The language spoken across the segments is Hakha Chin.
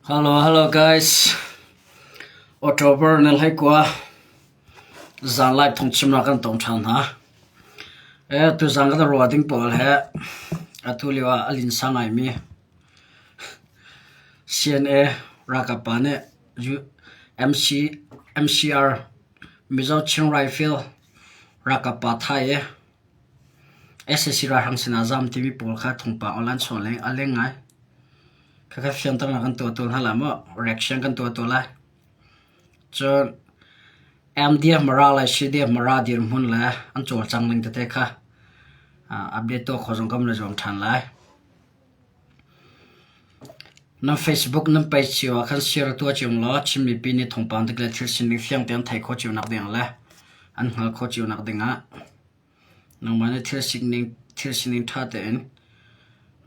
Hello guys. October na hlei kua zanlai thong chimnak kan tong ṭhan hna. E tu zan kan ruah ding pawl he atu lio ah a linsa ngaimi CNA ralkap pa nih MC MCR Mizo Chin Rifle ralkap pa Thai e sac ralhrang sinah zaam timi pawl kha thungpang aw lansawh leng a leng ngai. Khakha fiangtaknak kan tuah tawn hlah maw reaction kan tuah tawn lai. Cun MDF Mara le CDF Mara dirhmun le an cawlcang ning tete kha update tuah kho zong kan ra zuam ṭhan lai. Na Facebook nan page cio ah khan share tuah cio law Chin mipi nih thawngpang dik le thil sining fiang tein theih khawh cio nak ding le an hngal khawh cio nak ding ah nangmah nih thil sining thil sining ṭha tein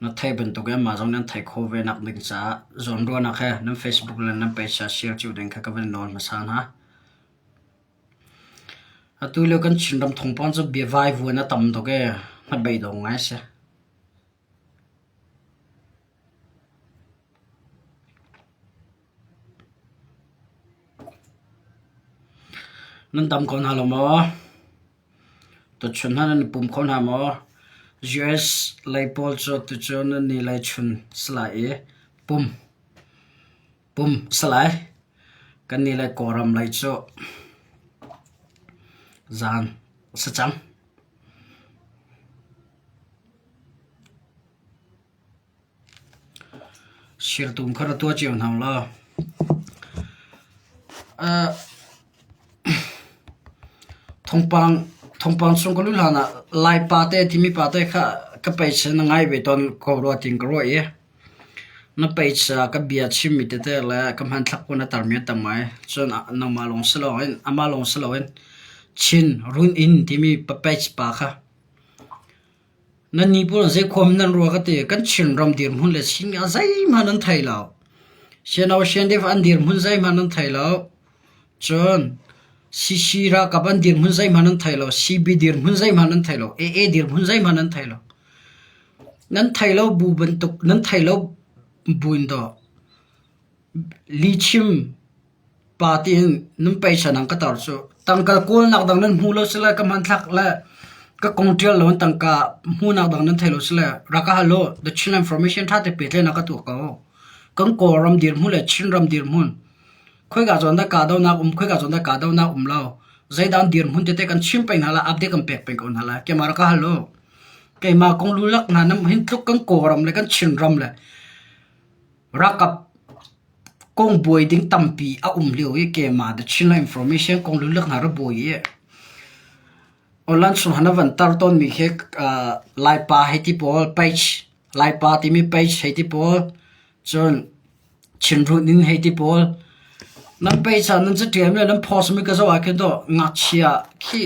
na theih bantuk in mah zong nih an theih khawh ve nak ding caah zawnruahnak he nan Facebook le nan page ah share cio ding kha ka van nawl hmasa hna. Atu lio kan Chin ram thawngpang cu bia vai vuan a tam tuk i hnabei dong ngai si. Nan tam kho hna lo maw? Tuchun hna nan pum kho hna maw? US lei pawl cu tucun annih lei chun si lai i pum. pumh salai. Kan nih le Kawlram lei cu zan a si cang. Sirtum kha ra tua cio hna law. Uh, thongpang thongpang chung ka lu hlan ah lai pa te thimi pa te kha ka pei sin ngai ve ton ko ro ting ka ro i Na peisa ka bia chimmi tete le ka hmanthlak puan a tarmi a tam ngai. Cun nangmah lawng si loin amah lawng si loin Chin run in timi papetz pa kha nan nih pawl in zeikhuam in nan ruah ka ti. Kan Chinram dirhmun le singa zeihmanh an thei lo. Sianau siandev an dirhmun zeihmanh an thei lo. Cun Sisi ralkap an dirhmun zeihmanh an thei lo, Sibi dirhmun zeihmanh an thei lo, AA dirhmun zeihmanh an thei lo. Nan thei lo bu bantuk, nan thei lo buin daw lihchim party in nan peisa nang ka tar cu. Tangkal kawlnak dang nan hmu lo si le ka hmanthlak le ka kong ṭial lo in tangka hmuhnak dang nan thei lo si le rak ka hal u. The Chin Information ṭha te petlai na ka tuah ko. Kan Kawlram dirhmun le Chinram dirhmun Khoika zawn dah kahdohnak um, khoika zawn dah kahdohnak um lo. Zeidan dirhmun tete kan chim peng hna la, update kan pek peng ko hna la. Camera ka halo. Keima kong lulak hna nam hin tluk kan kawram le kan chinram le rakap kong buai ding tampi a um lio i keima da chinla information kong lulak hna ra buai i Olan sun hana van tar ton mi he uh, laipa he ti pawl page laipa ti mi page he ti pawl cun Chinruh ning hei ti pawl. Nan peisa nan catiam le nan phosmi ka zoh ahkhin tuah ngakchia khi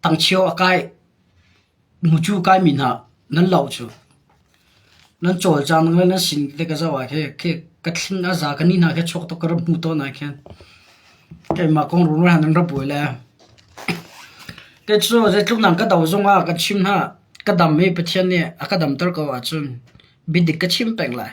tangchio a kai, hmucu kaimi hna nan loh cu. Nan cawlcang ning le nan sin te ka zoh ahkhi khi ka thling a za ka ni hna khi chuak tuk ka rak hmu tawn ahkhin keimah kong rungrul han nan ra buai le. Te cu zeitluk nang ka do zongah kan chim hna, ka dam i Pathian nih a ka damter ko ahcun biadik ka chim peng lai.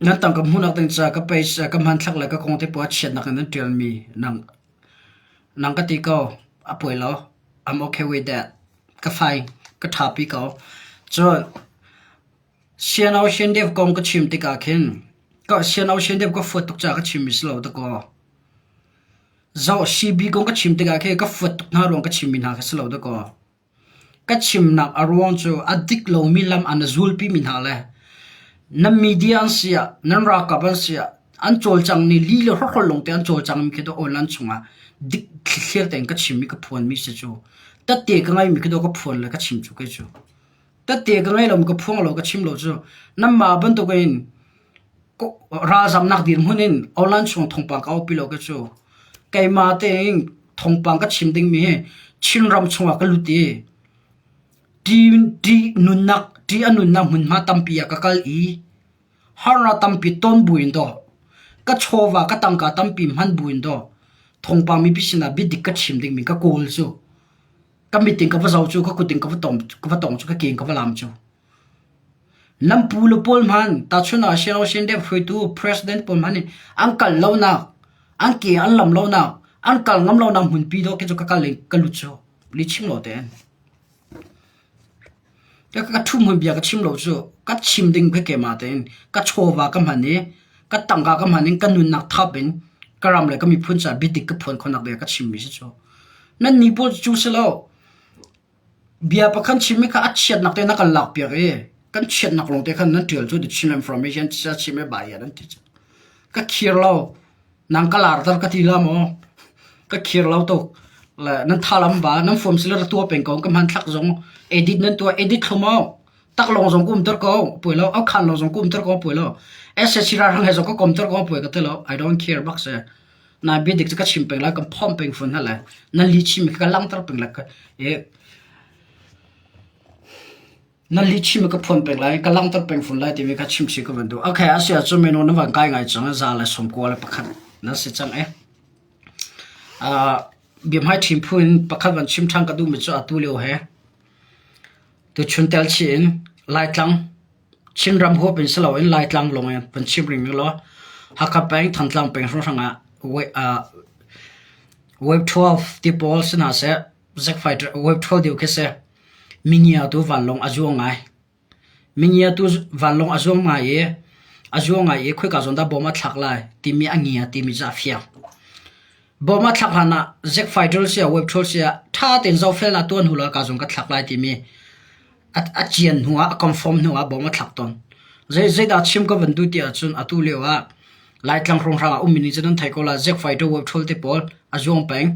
Nan tangka hmuhnak ding caah ka peisa, ka hmanthlak le ka kong te puah chiatnak in an ṭialmi nang, nang ka ti ko, a poi lo. I'm okay with that. Ka fai, ka ṭha pi ko. Cun, Sian Aung Shin Dev kong ka chim tikah khin, ka Sian Aung Shin Dev ka fuat tuk caah ka chimmi si lo ta kaw, Zoh CB kong ka chim tikah khin ka fuat tuk hna ruang ka chimmi hna kha si lo ta kaw. Ka chimnak a ruang cu a dik lomi lam ah na zulpimi hna le nan media an si ah, nan ralkap an si ah an cawlcangmi li le hrawhrol lawngte an cawlcangmi khi dawh awn an chungah dik thlithial tein ka chimmi ka phuanmi si cu. Tate ka ngeimi khi dawh ka phuan le ka chim cu kei cu. Tate ka ngei lomi ka phuang lo ka chim lo cu nanmah bantukin Ralzamnak dirhmun in online chung thawngpang ka aupi lo khi cu. Keimah tein thawngpang ka chim dingmi hi Chinram chungah ka lut i ṭih nunnak, ṭih a nunnak hmunhma tampi ah ka kal i harnak tampi ton buin daw ka chawva ka tangka tampi hman buin daw thawngpang mipi sinah biadik ka chim dingmi ka kawl cu. Ka mit in ka va zoh cu, ka kut in ka va tong cu, ka keng ka va laam cu. Lampu lu pawl hmanh tahchunh ah sianginn dep hruaitu president pawl hmanh nih an kal lonak, an ke an lam lonak, an kal ngam lonak hmunpi dawh khi cu ka kal i ka lut cu li chim lo ten. Te ka ṭhum hun bia ka chim lo cu ka chim ding pe kema tein ka chawva ka hman i ka tangka ka hman in ka nunnak thap in ka ram le ka miphun caah biatik ka phuan khonak bia ka chimmi si cu. Nannih pawl cu si lo, Bia pakhat chimmi kha a chiatnak te in a kan lakpiak i kan chiatnak lawng te khan nan ṭial cu the Chin I'm from Asian Tiah chim i Bayan an ti cu. Ka khir lo. Nang ka lar tar ka ti la maw? Ka khir lo tuk. Le nan thalam ba, nan form sila ra tua peng ko, ka hmanthlak zong edit nan tua edit thlu maw? Tak lawng zong ka um ter ko, poi lo, au khan lo zong ka um ter ko, poi lo. SSC ra rang he zong ka kom ter ko, poi ka te lo. I don't care bak se. Nai biadik cu ka chim peng lai, kan phomh peng fawn hna lai. Na lihchim hi ka langhter peng lai. Na lihchim hi ka phuan peng lai, ka langhter peng fawn lai timi kha chim si ka van duh. Ok, a si ahcun minu na van kai ngai cang. Za le sawm kua le pakhat na si cang e. Biahmai ṭhim phu in pakhat van chim ṭhan ka duhmi cu atu lio he tuchun tel chih in Laitlang Chinram huap in si loin Laitlang lawng in vun chim ring ning law Hakha peng, Thantlang peng hrawnghrang ah Wave 12 ti pawl si hna seh, Zack Fighter Wave 12 deu khi si mingiatu vanlawng a zuang ngai. Mingiatu vanlawng a zuang ngai i a zuang ngai i khoika zawn dah bom a thlak lai timi a ngia timi cu a fiang. Bawm a thlak hlan ah zekfai drill sia, web drill sia ṭha tein zohfelnak tu an hul ah kaa zung ka thlak lai timi a cian hnu ah, a confirm hnu ah bawm a thlak tawn. Zeidah chim ka van duh ti ahcun atu lio ah Laitlang hrawnghrang ah ummi nih cun an thei ko la zekfai drill web drill te pawl a zuang peng.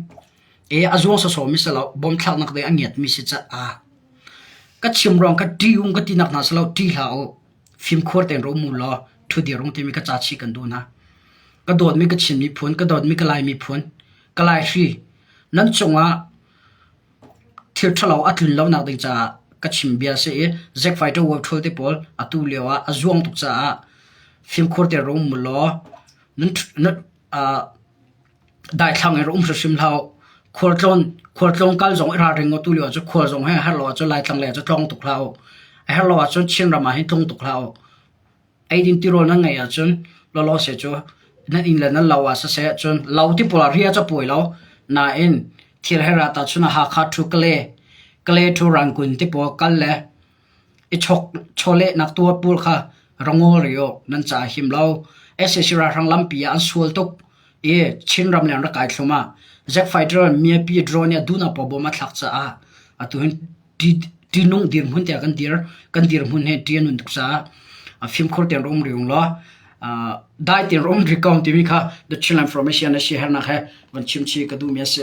I a zuang sawsawmi si lo, bawm thlaknak dei a ngiatmi si ca'h. Ka chim ruang ka ṭium ka tinak hna si lo, ṭi hlah u. Fimkhur tein rawm u law ṭhudir ung timi ka ca chih kan duh hna. Ka dawtmi ka Chin miphun, ka dawtmi ka Lai miphun, ka Laihri nan cungah thil ṭhalo a tlun lonak ding caah ka chim bia a si i Zack Fighter world ṭhul te pawl atu lio ah a zuang tuk caah fimkhur tein rawm u law nan ṭh- nan- aa- Daithlang i rak um hrimhrim hlah u. Khualtlawn, khualtlawn kal zong i ralring u. Tulio cu khual zong hi a herh lo ahcun Laitlang lei ah cu tlawng tuk hlah u. A herh lo ahcun Chinram ah hin tlung tuk hlah u. Eidin tirawl nan ngeih ahcun lawlaw seh cu nan inn le nan lo ah siseh cun lo tipul ah ri a capuai lo. Nain thil her ah tahchun a Hakha thu Kale, Kale thu Rangun tipul kal le I chawlehnak tuar pawl kha ra ngawlri awk nan caah a him lo. SAC ralhrang lampi ah an sual tuk i Chinram le an rak kai thluam ah Zack Fighter miapi drone nih a duhnapaw bomb a thlak caah atu hin ṭihnung dirhmun tiah kan dir kan dirhmun hi ṭi an um tuk caah a fimkhur tein rum rih ung law dai tein rum rih ko timi kha The Chinland Information na siaherhnak he van chim chih ka duhmi a si.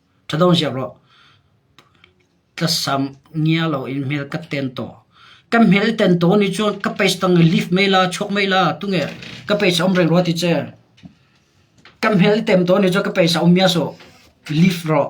Ṭhatawng ziak rawh. Tlasam ngia loin hmel ka ten taw. Kan hmel i ten taw nih cun ka page tang i lift mei la, chuak mei la, tunge ka page a um rih rua ti ce. Kan hmel i tem taw nih cun ka page a um mias uh. Lift rawh.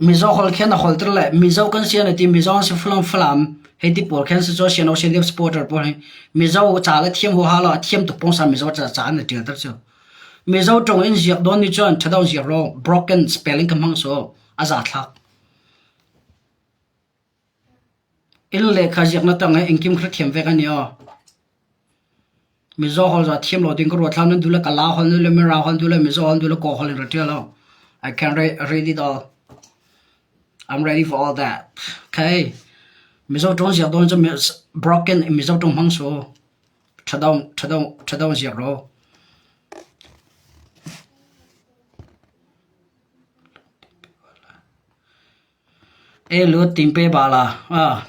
Mizo holh khin a holter le Mizo kan si an i ti. Mizo an si Falam. Hei ti pawl khin si cu sian Australia supporter pawl hi Mizo ca le thiam huaha lo a thiam tuk pawng san Mizo ca ca an i ṭialter cu. Mizo ṭong in ziak dawn ni cun ṭhadong ziak ro broken spelling ka hmang cu a za thlak. Inn le kha ziaknak tang ah engkim kha thiam ve kan i aw. Mizaw hol za thiam lo ding ka ruat hlan nan duh le ka la hol nan duh le mira hol nan duh le mizaw hol nan duh le kaw hol in ra ṭial aw. I can re- read it all. I'm ready for all that. Okay. Mizaw ṭong ziak dawn cu mi- broken mizaw ṭong hmang su. Ṭha dong, ṭha dong, ṭha dong ziak ro. Ei lut ting pe bal ah,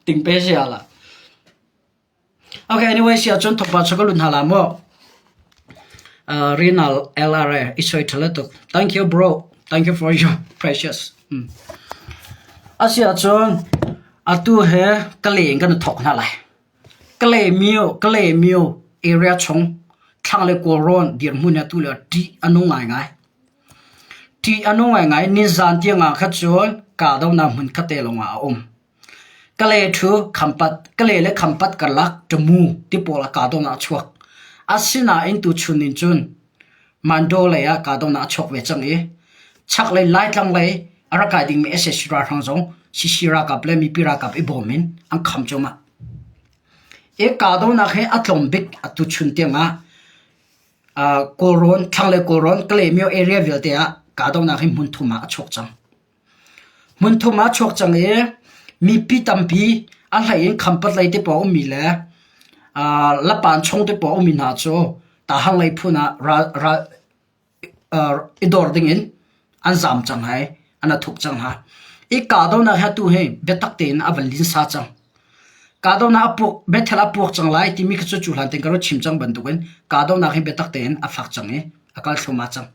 ting pe si ah lah. Okay anyway si ahcun thawk pah cu ka lut hna la maw? Rinal LRA i soi ṭha le tuk. Thank you bro. Thank you for your precious. Asi ahcun atu he ka le in kan i thawk hna lai. Kalaymyo area chung thlang le kawlrawn dirhmun hi atu lio ah ṭih a nung ngaingai. Ṭih a nung ngaingai. Nizaan tiang ah kha cun kahdohnak hmun khatte lawng ah a um. Kalay ṭhu Khampat, Kalay le Khampat karlak ṭamu ti pawl ah kahdohnak a chuak. Asinain tuchun in cun Mandaw lei ah kahdohnak a chuak ve cang i chaklei Laitlang lei a ra kai dingmi sac ralhrang zong sac ralkap le mipi ralkap i bawm in an kham cuahmah. I kahdohnak hi a tlawm bik atu chun tiangah Kawlrawn, thlanglei Kawlrawn, Kalaymyo area vialte ah kahdohnak hi hmun thum ah a chuak cang. Hmunthum ah a chuak cang i mipi tampi a hlei in khampat lei te pawng a ummi le aa lapan chung te pawng a ummi hna cu Tahang lei phun ah ral ral aa i dor ding in an zaam cang hai an a thuk cang hna. I kahdohnak hi atu hi biatak tein a van linsa cang. Kahdohnak a puak Bethel a puak cang lai timi kha cu cu hlan ten ka rak chim cang bantuk in kahdohnak hi biatak tein a fak cang i a kal thluamah cang.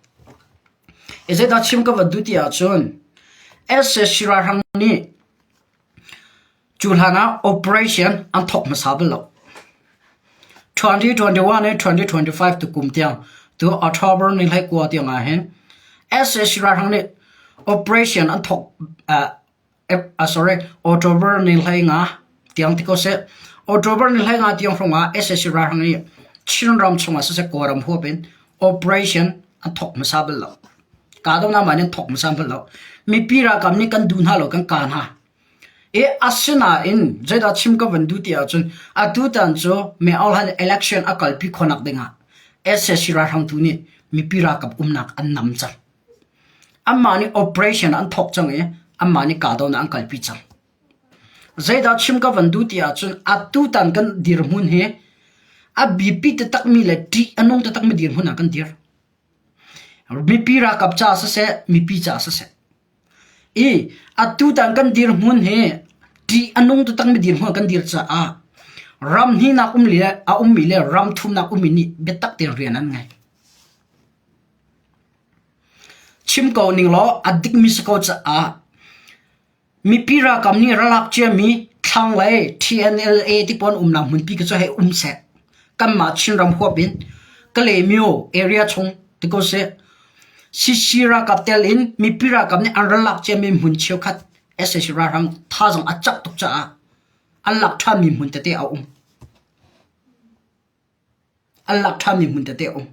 I zeidah chim ka van duh ti ahcun sac ralhrang nih cu hlan ah operation an thawk hmasa bal lo. 2021 le 2025 tu kum tiang tu October ni hlai kua tiang ah hin sac ralhrang nih operation an thawk uh, October ni hlei nga tiang ti ko seh. October ni hlei nga tiang hrung ah SSC ralhrang nih Chin ram chungah siseh Kawlram huap in operation an thok hmasa bal lo. Kahdohnak man in thok hmasa bal lo. Mipi ralkap nih kan duh hna lo, kan ka hna. E asinain zeidah chim ka van duh ti ahcun atu tan cu me olhan election a kalpi khonak dingah SSC ralhrang tu nih mipi ralkap umnak an nam car. Anmah nih operation an thawk cang i anmah nih kahdohnak an kalpi cang. Zeidah chim ka van duh ti ahcun atutan kan dirhmun hi a biapi taktakmi le ṭih a nung taktakmi dirhmun ah kan dir. Mipi ralkap caah siseh, mipi caah siseh. I atutan kan dirhmun hi ṭih a nung taktakmi dirhmun ah kan dir caah ram hninak um le a ummi le ram thumnak ummi nih biatak tein rian an ngei. Chim ko ning law a dikmi si ko caah mipi ralkap nih ralak ciami thlanglei TNLA tipawn umnak hmunpi khi cu hei um seh. Kanmah Chinram huap in Kalaymyo area chung ti ko sih. CC ralkap telin mipi ralkap nih an ralak ciami hmun cheukhat SAC ralhrang thazaang a cak tuk caah an lak ṭhanmi hmun tete a um. An lak ṭhanmi hmun tete a um.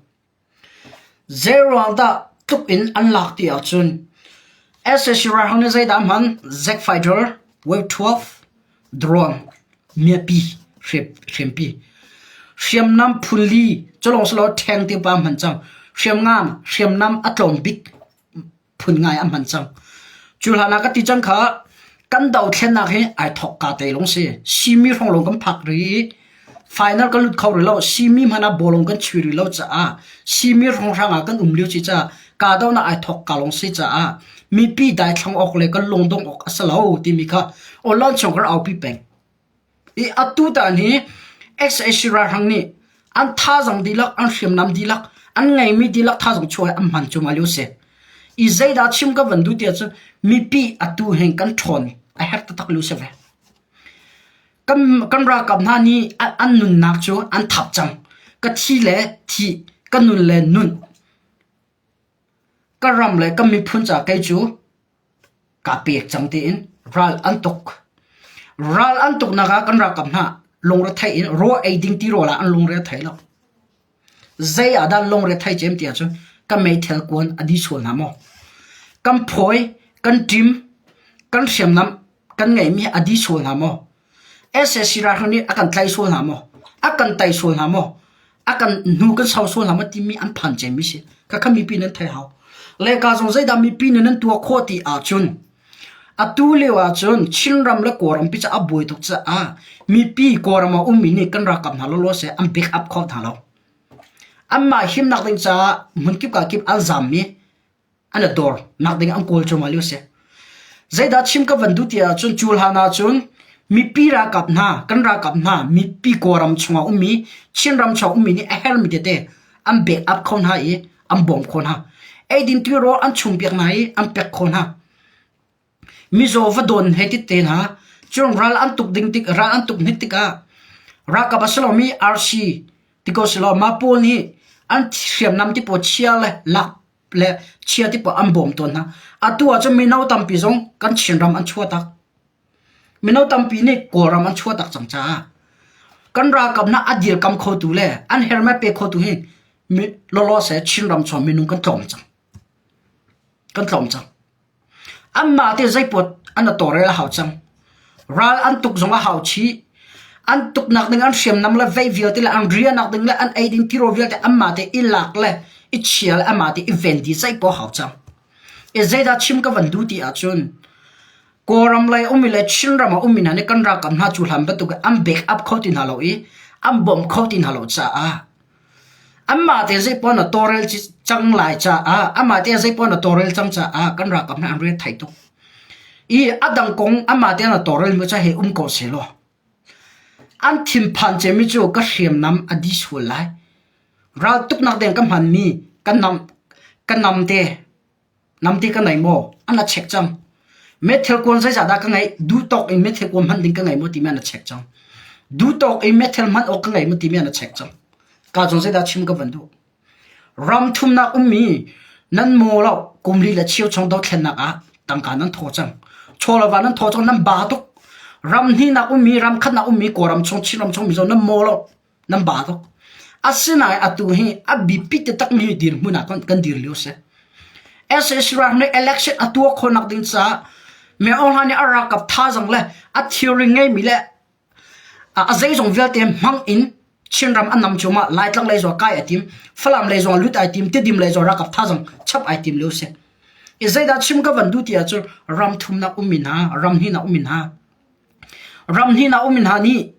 Zeiruang dah tluk in an lak ti ahcun SAC ralhrang nih zeidah a hman? Zack Fighter Wave 12 drone miapi hriampi, hriamnam phun li culawng selaw ṭheng tiva hman cang, hriamngan, hriamnam a tlawm bik. phun ngai an hman cang cu hlan ah ka ti cang kha kan dothlennak hi ai thok ka te lung si simi hrong long kan phak ri final kan lut kho ri lo simi mana bolong kan chui ri lo cha a simi hrong hrang a kan um liu chi cha ka do na ai thok ka long si cha a mi pi dai thlang ok le kan lung dong ok asalo ti mi kha olon chong kar au pi peng I atutan hi sac ralhrang nih an thazang dihlak, an hriamnam dihlak, an ngeimi dihlak thazang chuah hi an hman cu ngalio a si. I zeidah chim kan van duh ti ahcun mipi atu hin kan ṭhawn a herh taktak lio a si ve. Kan, kan ralkap hna nih an, an nunnak cu an thap cang. Ka thi le thi, ka nun le nun, ka ram le kan miphun caah kei cu Kaa pek cang tiin ral an tuk. Ral an tuknak ah kan ralkap hna lungrethei in ruah ei ding tirawl ah an lungrethei lo. Zei ah dah lungrethei cem ti ahcun kan meithal kuan a di sual hna maw? Kan phawi, kan ṭim, kan hriamnam kan ngeihmi a di sual hna maw? sac ralhrang nih a kan tlaih sual hna maw? A kan tei sual hna maw? A kan hnu kan sau sual hna maw timi an phan cemmi si. Khakha mipi nan thei hau. Le ka zong zeidah mipi nih nan tuah khawh ti ahcun atu lio ahcun Chinram le Kawlram pi caah buai tuk caah mipi Kawlram ah ummi nih kan ralkap hna lawlaw seh an back up kho hna lo. Anmah himnak ding caah hmun kip ka kip an zammi an a dawr nak ding ah an kawl ṭuahmah lio a si. Zeidah chim ka van duh ti ahcun cu hlan ahcun mipi ralkap hna kan ralkap hna mipi kawlram chungah ummi Chinram chungah ummi nih a hermi tete an bek up kho hna i an bawm kho hna. Eidin tuirawl an chung piak hna i an pek kho hna. Mizaw va dawn he tete hna, cun ral an tuk ding tik, ral an tuk hnit tikah ralkap a si lomi RC ti ko selaw mah pawl nih an hriamnam tipaw chia le lak le chia tipaw an bawm tawn hna. Atu ahcun mino tampi zong kan Chinram an chuah tak. Mino tampi nih Kawlram an chuah tak cang caah kan ralkap na a dir kam khotu le an her me pe khotu hi mi lawlaw se Chinram chuah minung kan tlawm cang. kan tlawm cang. Anmah te zeipuat an a tawrel a hau cang. Ral an tuk zong a hau chih. An tuknak ding an hriamnam le veih vialte le an riahnak ding le an ei ding tiro vialte anmah te i lak le i chial anmah te i venti zeipuat a hau cang. E zeidah chim ka van duh ti ahcun Kawlram lei umi le Chinram a umi hna nih kan rak kan hna cu hlan bantuk an bek up kho ti hna lo i an bawm kho ti hna lo caah Anmah te zeipaoh na tawlrel cang lai caah amah te zeipaoh na tawlrel cang caah kan ralkap nih an riat thai tuk. I a dang kong amah te na tawlrel mi ca he um ko sehlaw an thinphan cemi cu ka hriamnam a di sual lai. Raltuknak deng ka hmanmi ka nam, ka nam te. Namte ka ngei maw? An a chek cang. Meithal kuan zeizah dah ka ngeih? Duhtawk in meithal kuan hman ding ka ngei maw timi an a chek cang. Duhtawk in meithal hman awk ka ngei maw timi an a chek cang. Ka zong zeidah chim ka van duh. Ram thumnak ummi nan maw lo kum li le chio chong dothlennak ah tangka nan thaw cang. Chawlava nan thaw cang nan ba tuk. Ram hnihnak ummi, ram khatnak ummi, kawlram chung, Chinram chung, Mizo nan maw lo nan ba tuk. Asinain atu hi a biapi takmi dirhmun ah kan dir lio si. SAC ram nih election a tuah khonak ding caah me online nih a rakap thazang le a theory ngeimi le a zeizong vialte hmang in Chinram an nam cuma Laitlang lei zuwa kai atim Falam lei zuwa lut aitim Tedim lei zuwa rakap thazang chap aitim leo se i zeidah chim ka van duti ah cu ram thumnak umin ha ram hina umin ha ram hina umin ha nih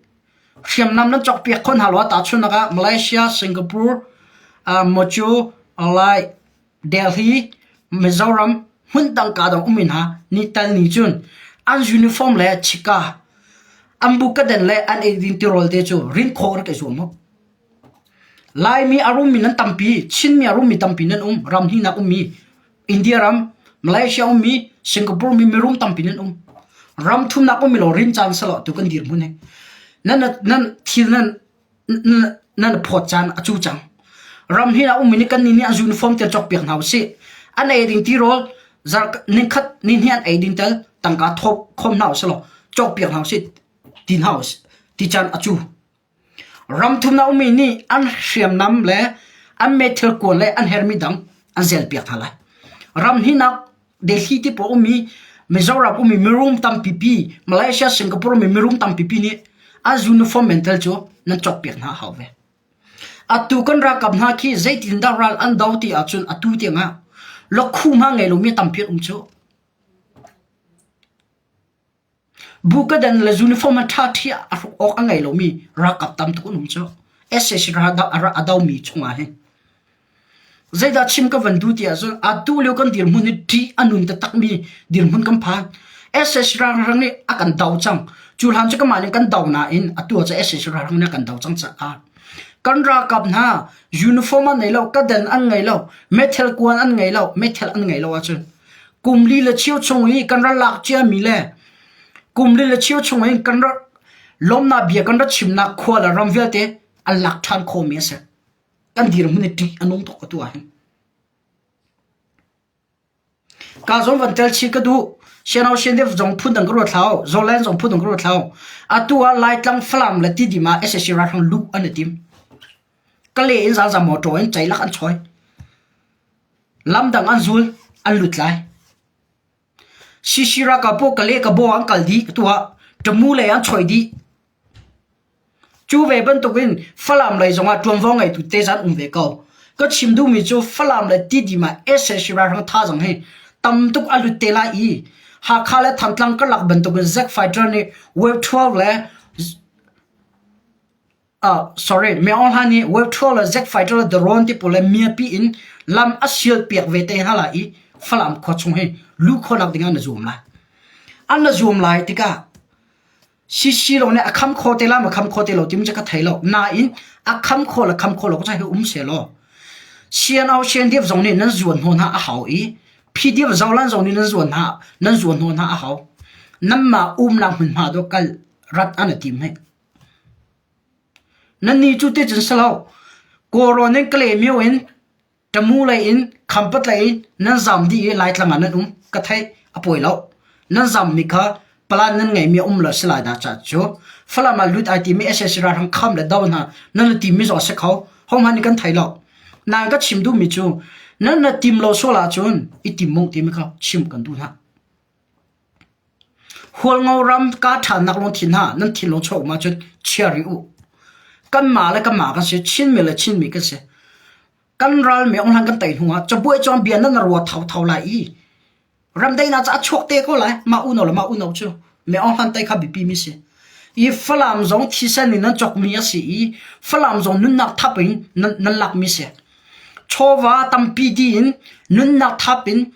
Hriamnam nan cawk piak kho hna law tahchunhnak ah Malaysia, Singapore, Mawcaw, Lai, Delhi, Mizoram hmun tangka dong um men hna nitan ni cun an uniform le chika an bukaden le an eidin tirawl te cu rin kho rak i zuam mu. Laimi a rummi nan tampi, Chinmi a rummi tampi nan um, ram hnih nak ummi India ram Malaysia ummi Singapore mi mirum tampi nan um. Ram thumnak ummi law rin caan selaw tu kan dirhmun he. Nan nan thil nan nan phawt caan a cu cang. Ram hi na ummi ni kan ni nih a uniform te chok piak hna usih. An ei ding ti rol zar ning khat ni ni an ei ding tel tangka thop khom hna usih law chok piak hna usih. Tin hna usih. Ti caan a cu. Ramthum a ummi nih an hriamnam le an met thilkual le an hermi dang an zelpiak hna lai. Ram hnihnak Delhi tipawl a ummi Mizoram ummi mirum tampipi Malaysia Singapore ummi mirum tampipi nih an uniform men tel cu nan cawkpiak hna a hau ve. Atu kan ralkap hna khi zeitindah ral an do ti ahcun atu tiangah lokhu hma ngei lomi tampi an um cu. Bukadan le uniform a ṭhaṭhi ah a hruk awk a ngei lomi ralkap tam tuk an um cu. SAC ralkap a domi chungah hin. Zeidah chim ka van duh ti ahcun atu lio kan dirhmun i ṭih a nun taktakmi dirhmun kan phan. SAC ralhrang nih a kan do cang. Cu hlan cu kamah nih kan do nain atu ah cu SAC ralhrang nih a kan do cang caah. Kan ralkap hna uniform an ngei lo, kadan an ngei lo, meithal kuan an ngei lo, meithal an ngei lo ahcun Kum li le cheu chung i kan ral lak ciami le kum li le cheu chung in kan ral lawmnak bia kan rat chimnak khua le ram vialte an lak ṭhan khawmi a si. Kan dirhmun i ṭih a nung tuk atu ahhin. Ka zong van tel chih ka duh. Sianau siandev zong phun dang ka ruat hlau. Zoland zong phun dang ka ruat hlau. Atu ah Laitlang Falam le tidim ah SSC ralhrang luh an i tim. Ka le in zalzam motor in ceilak an choi. Lamdang an zul, an lut lai. Shishi ralkap pawl Kale Kabaw ah an kal dih ka tuah. Ṭamu lei ah an chuai dih. Cu ve bantuk in Falam lei zongah ṭuanvo ngeitu te zan um ve ko. Ka chim duhmi cu Falam le Tidim ah SSC ralhrang thazaang hi tam tuk a lut te lai i Hakha le Thantlang karlak bantuk in Zack Fighter nih Wave 12 le Miohla nih world-tour le jet-fighter le drone tipul le miapi in lam a sialpiak ve te hna lai i Falam khua chung hi lu khawhnak dingah na zuam lai. An na zuam lai tikah CCLO nih a kham kho te la ma kham kho te lo timi cu ka thei lo. Nain a kham kho le kham kho lo ko sai hi um se law CNO CNDF zong nih nan zuan hnaw hna a hau i PDF zolan zong nih nan zuan hna nan zuan hnaw hna a hau. Nanmah umnak hmunhma do kal rat an a tim hei. Nan nih cu ticun si lo, kawlrawn in ka lehmio in ṭamu lei in khampat lei in nan zam dih i Laitlang ah nan um ka theih a poi lo. Nan zammi kha palan nan ngeihmi a um lo a si lai dah caah cu. Falam ah lut ai timi sac ralhrang kham le do hna nan i timmi zawk a si kho. Hohmanh nih kan thei lo. Nain ka chim duhmi cu nan na tim lo sual ahcun i tim mung timi kha chim kan duh hna. Hualngo ram kaa ṭhannak lawng thi hlah, nan thinlung chuak um ahcun chia rih u. Kanmah le kanmah kan si, Chinmi le Chinmi kan si. Kan ral meong hlan kan tei hnu ah cabuai cang bia nan rua thotho lai i ramdeinak cu a chuak te ko lai. Mah unau le mah unau cu meong hlan tei kha biapi mi si. I Falam zong thisen in nan cawkmi a si i Falam zong nunnak thap in nan, nan lakmi si. Chawva tampi di in nunnak thap in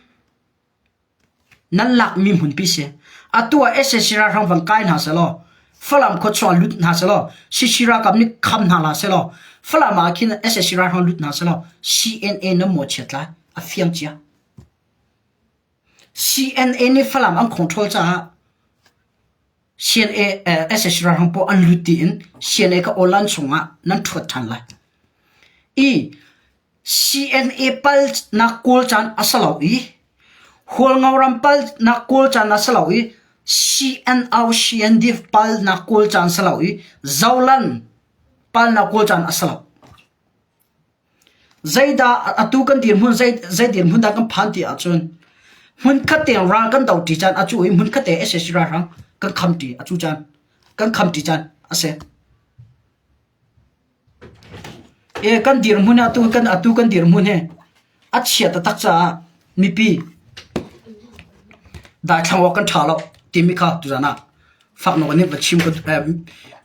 Nan lakmi hmunpi si. Atu ah Sshira hrang van kai hna sehlaw, Falam khuachuah lut hna sehlaw, Sshira kam nih kham hna la sehlaw, Falam ah khin Sshira hrang lut hna sehlaw, CNA nan maw chiat lai? A fiang cia. CNA nih Falam an khawngṭhawl caah sac ralhrang pawl an lut tiin CNA ka online chungah nan thuat than lai. I CNA pal nak kawl caan a si lo i Hualngo ram pal nak kawl caan a si lo i CNRCNDF pal nak kawl caan si lo i Zoland pal nak kawl caan a si lo. Zeidah atu kan dirhmun zei dirhmun dah kan phan ti ahcun hmun khat tiang ral kan do ṭi caan a cu i hmun khat te asi ralhrang kan kham ṭi a cu caan kan kham ṭi caan asi. Kan dirhmun hi atu kan dirhmun hi a chia taktak caah mipi daithlang awk kan ṭha lo timi kha tuzan ah faknawk nih va chim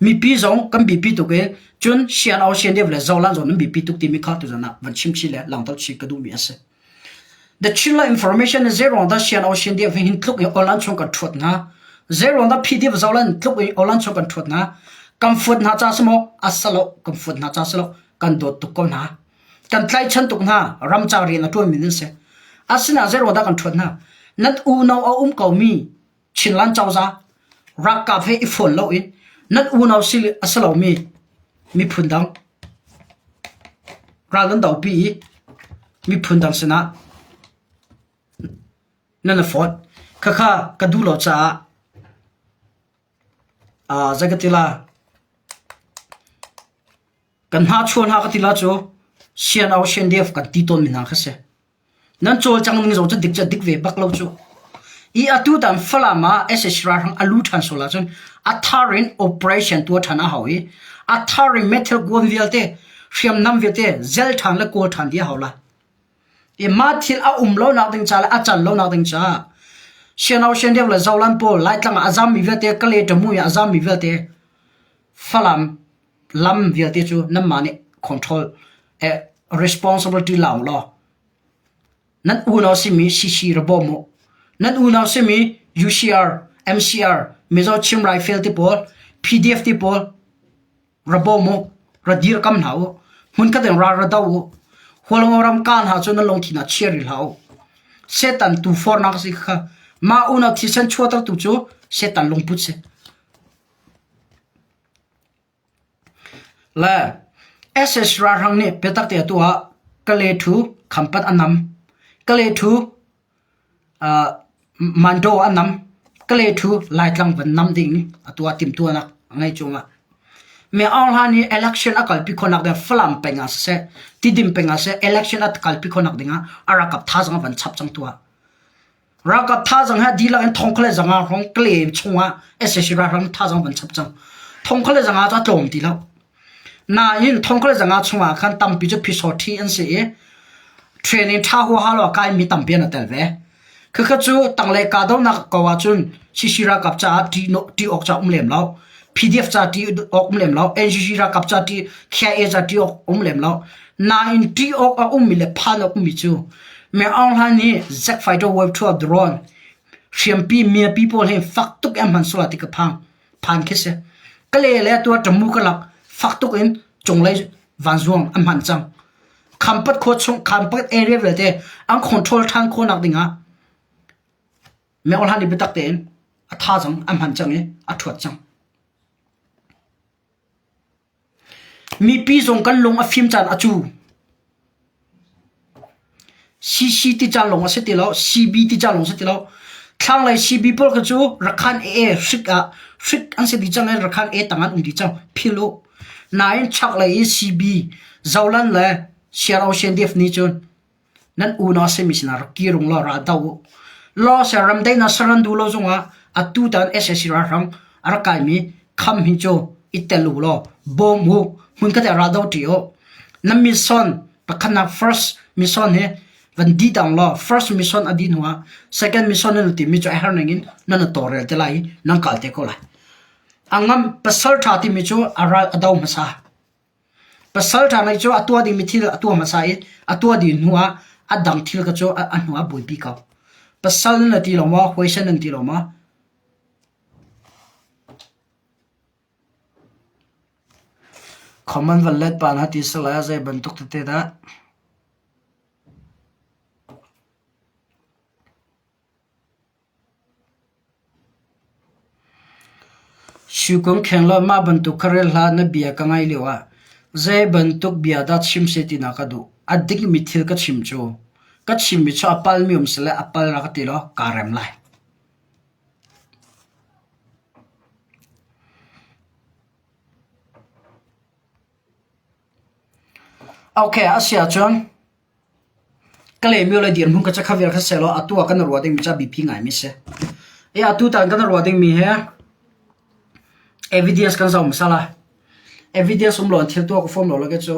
mipi zong kan bipi tuk i cun sian au sian deuh le zolan zong nan bipi tuk timi kha tu zanak van chim chi le langtau chi ka duhmi a si the chinla information zeirong da sian au sian deuh hin tluk i online chung kan thuat na zeirong da pdf zolan tluk i online chung kan thuat na kan fuat na cha samo asalo kan fuat na cha salo kan dot tuk ko na kan tlai chan tuk na ram cha ri na tuan min se asina zeirong da kan thuat na nan u no a um ko mi Chinland cozah ralkap he i fawn loin nan unau a si lomi miphun dang ral nan dopi i miphun dang sinah nan i fawt. Khakha ka duh lo caah uh, zei ka ti la kan hna chuan ha ka ti la cu sian au sian def kan ti tawn mi hna kha si. Nan cawlcang ning zong cu dik cu a dik ve bak lo cuh. I atu tang Falam ah sac ralhrang a lu ṭhan sual ahcun a thar in operation tuah ṭhan a hau i a thar in meithal kuan vialte, hriamnam vialte zel ṭhan le kawl ṭhan dih a hau la. I mah thil a um lonak ding ca le a can lonak ding caah Sianau Siandeu le Zolan pawl Laitlang ah a zammi vialte, Kale ṭamu in a zammi vialte Falam Lam vialte cu nanmah nih control, responsibility la u law nan unau simi CC ra bawm u. Nan unau simi UCR, MCR, Mizo Chim Raifel te pawl, PDF te pawl ra bawm u, ra dirkam hna u. Hmunkhat in ral ra do u. Hualngo ram ka hna cu nan lungthin ah chia rih hlah u. Setan tuufornak a si kha mah unau thisen chuahtertu cu Setan lungput si. Le sac ralhrang nih biatak te a tuah. Kale ṭhu khampat an nam. Kale ṭhu Mandaw an nam. Kale ṭhu Laitlang van nam ding a tuah timhtuahnak a ngei cungah. Mi aung hlan i election a kalpi khonak ding Falam peng ah siseh, Tidim peng ah siseh election a kalpi khonak dingah a rakap thazang van chap cang tuah. Ralkap thazang he dihlak in thongkhle zanga rong kle chungah SSC ralhrang thazang van chap cang. Thongkhle zanga cu a tlawm ti lo. Nain thongkhle zanga chungah khan tampi cu phisor thi an si i training tha hua halo kai mi tampi an tel ve. Khakha cu tanglei kahdohnak ko ahcun CC ralkap caah ti awk ca um lem lo. PDF ca ṭi awk um lem lo, NCC ralkap ca ṭi, KIA ca ṭi awk um lem lo. Nain ṭi awk a ummi le phan a ummi cu Meng Aung Hlaing nih Zack Fighter wave thu ah drone hriampi miapi pawl hi fak tuk in hman sual ti ka phang phan khi si ka le le tua ṭamu ka lak fak tuk in cunglei vanzuang an hman cang khampat khua chung khampat area vialte an control ṭhan khawh nak dingah Meohlan i biatak tein a tha cang, an hman cang i a ṭhuat cang. Mipi zong kan lung a fim caan a cu. CC ti caan lawng a si ti lo, CB ti caan lawng si ti lo. Thlanglei CB pawl kha cu rakhan ee hrik ah hrik an si dih cang i rakhan ee tang an um dih cang. Phil u. Nain chaklei i CB Zolan le Siarau Sian Def nih cun Nan unau simi sinah rak kirung law ra do u. Law ser ramdei na ser nan duh lo zungah atu tan sac ralhrang a rak kaimi kham hi cu i tel u law bawm u. Hmunkhat ah ra do ṭi u. Na mission pakhatnak first mission hi van di tang law first mission a dih hnuah second mission nan timi cu a her ning in nan i tawrel te lai i nan kal te ko lai. A ngam pasalṭha timi cu a ral a do hmasa. Pasalṭha ngeih cu a tua dingmi thil a tua hmasa i a tua dih hnuah a dang thil kha cu a hnuah a buaipi ko. Pasal nan ati lo maw? Huaisen nan ti lo maw? Khawman van let pa na ti sal lai ah zei bantuk tete dah? Suikung kheng law mah bantuk khuarel hlah na bia ka ngaih lio ah zeibantuk bia dah chim seh ti na ka duh. A dikmi thil ka chim cu ka chimmi cu a palmi um sile a pal rak ka ti law kaa rem lai. Okay, a si ahcun ka lehmio le dirhmun ka cakha vial kha sehlaw atu ah kan i ruah dingmi cu a biapi ngaimi a si. I atu tan kan i ruah dingmi hi evidence kan zoh hmasal a. Evidence um law in thil tuah ka fawm lo lawk hi cu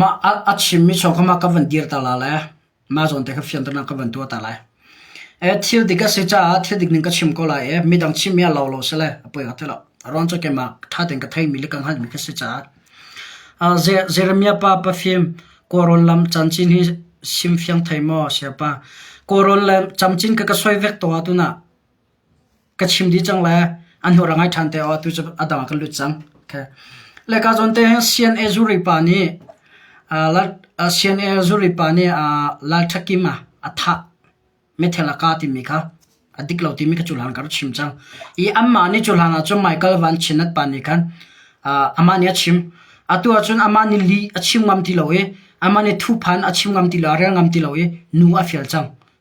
Mah a chimmi chaw kha mah ka van dir ta lai le mah zawn te kha fianternak ka van tuah ta lai. Thil dik a si caah thil dik ning ka chim ko lai i midang chimmi ah lau lo si le a poi hnga ti lo. Ruang cu keimah ṭha tein ka theimi le ka hngalhmi khi a si caah. Jeremiah pa pafim kawrawn lam camcin hi sim fiang thei maw siapa? Kawrawn le camcin kha ka suai vek tawn ahcun ah. ka chim dih cang le an hlawt a ngai ṭhan te aw tu cu a dang ah kan lut cang. Okay. Le kaa zawn te hin CNA zuri pa nih uh, lal, uh, CNA zuri pa nih uh, Lal Ṭhakim ah a thah methel a ka timi kha a dik lo timi ka cuhlan ka rak chim cang. I anmah nih cuhlan ah cun Michael Van Chinat pa nih khan uh, amah nih a chim. Atu ah cun amah nih li a chim ngam ti lo i amah nih thuphan a chim ngam ti lo, a rel ngam ti lo i nu a fial cang.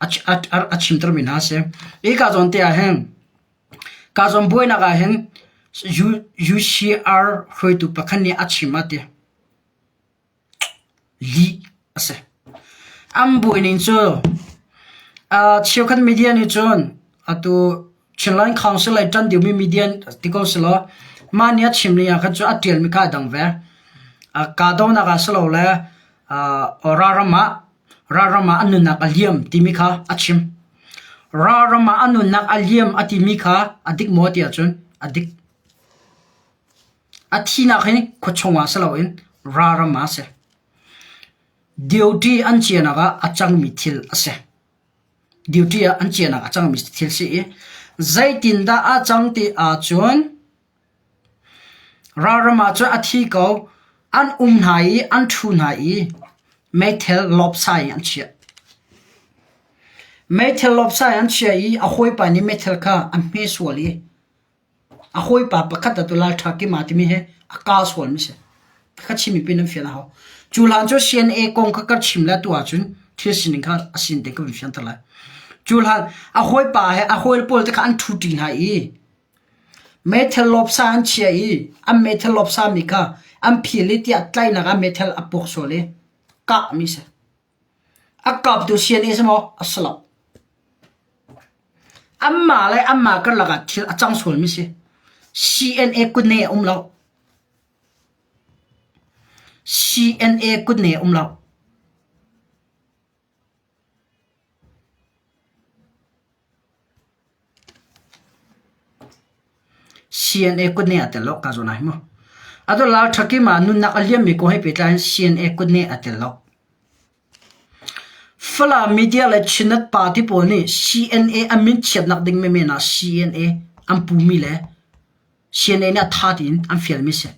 a chimtermi hna a si. Hi kaa zawn te ah hin kaa zawn buainak ah hin UCR hruaitu pakhat nih a chim a ti. Li a si. An buai ning cu cheukhat media nih cun atu Chin Line Council le tan deuhmi media ti ko si lo mah nih a chim ning ah khan cu a tialmi ka dang ve. Kaa donak ah si lo le ora ram ah Ralram ah an nunnak a liam timi kha a chim. Ralram ah an nunnak a liam a timi kha a dik maw ti ahcun a dik. A thihnak hi khua chungah si loin ralram ah a si. Duty an cianak ah a cangmi thil a si. Duty ah an cianak a cangmi thil si i, zeitindah a cang ti ahcun Ralram ah cun a thi ko, an um hna i an ṭhu hna i meithal lawpsa in an chiah. Meithal lawpsa in an chiah i a hawipa nih meithal kha a hme sual i a hawipa pakhat atu Lalṭha Kima timi hi a kaa sualmi a si. Pakhat chimmi pin an fian a hau. Cu hlan cu CNA kong kha kan chim le atu ahcun thil sining kha a sin te kan fianter lai. Cu hlan a hawipa he a hawi pawl te kha an ṭhuṭi hna i Meithal lawpsa an chiah i an meithal lawpsami kha an phil i tiah tlainak ah meithal a puk sual i kahmi a si. A kaptu siani a si maw? A si lo. Anmah le anmah karlak ah thil a cang sualmi si. CNA kut ne a um lo. CNA kut ne a um lo. CNA kut ne a tel lo kaa zawn ah hi mu. A dollar thakim ah nunnak a liammi kong he pehtlai in CNA kut ne a tel lo. Falam media le Chinat party pawl nih CNA a min chiatnak ding menmen ah CNA an pumi le CNA nih a tha tiin an fialmi si.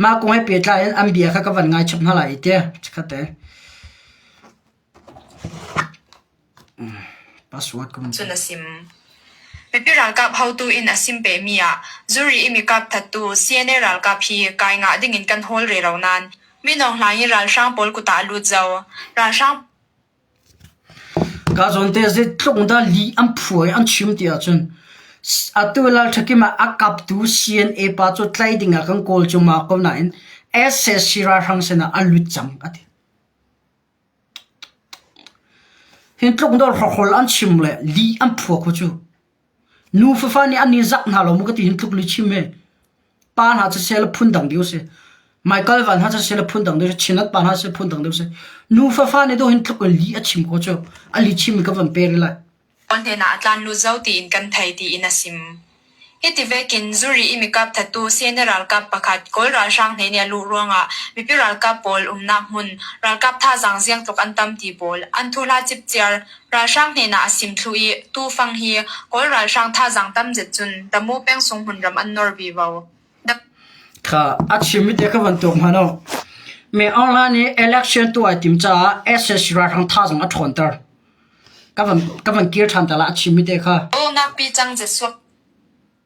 Mah kong he pehtlai in an bia kha ka van ngaichap hna lai i teh chikkhat e. Password ka vun Cun a sim. Mipi ralkap haotu in a sim pemi ah zuri i mikap thattu CNA ralkap hi kai ngah ding in kan hawl re lo nain Mino Hlang i ralhrang pawl kut ah a lut zau. Ralhrang Kaa zawnte zeitluk in dah lih an phuh i an chim ti ahcun atu Lalṭhakim ah a kaptu CNA pa cu tlaih ding ah kan kawl cuahmah ko nain SSC ralhrang sinah an lut cang a ti. Hi tluk in dah hrokhol an chim le lih an phuah khu cu. Nu fafa nih an ni zak hna lo mu ka ti hin tluk li chim e pa hna cu sel phun dang deu si Michael van hna cu sel phun dang deu si Chinat pa hna sel phun dang deu si nu fafa nih do hin tluk in li a chim ko cu a li chim mi ka van pe ri lai Onten ah tlan lut zo tiin kan thei tiin a sim. Hiti vekin zuri i mikap thatu sene ralkap pakhat kawl ralhrang hne nih lu ruangah mipi ralkap pawl umnak hmun ralkap thazang ziang tluk an tam ti pawl an thula chipchiar Ralhrang hnenah a sim thlu i tufang hi Kawl ralhrang thazaang tam zet cun Tamu peng-sung hmun ram an nawr vivo. Kha a chimmi te ka von tuak hmanh u. Myanmar nih election tuah a tim caah SS ralhrang thazaang a ṭhawnter. Ka von kir ṭhan ta la a chimmi te kha. Awnak pi cang zet suak.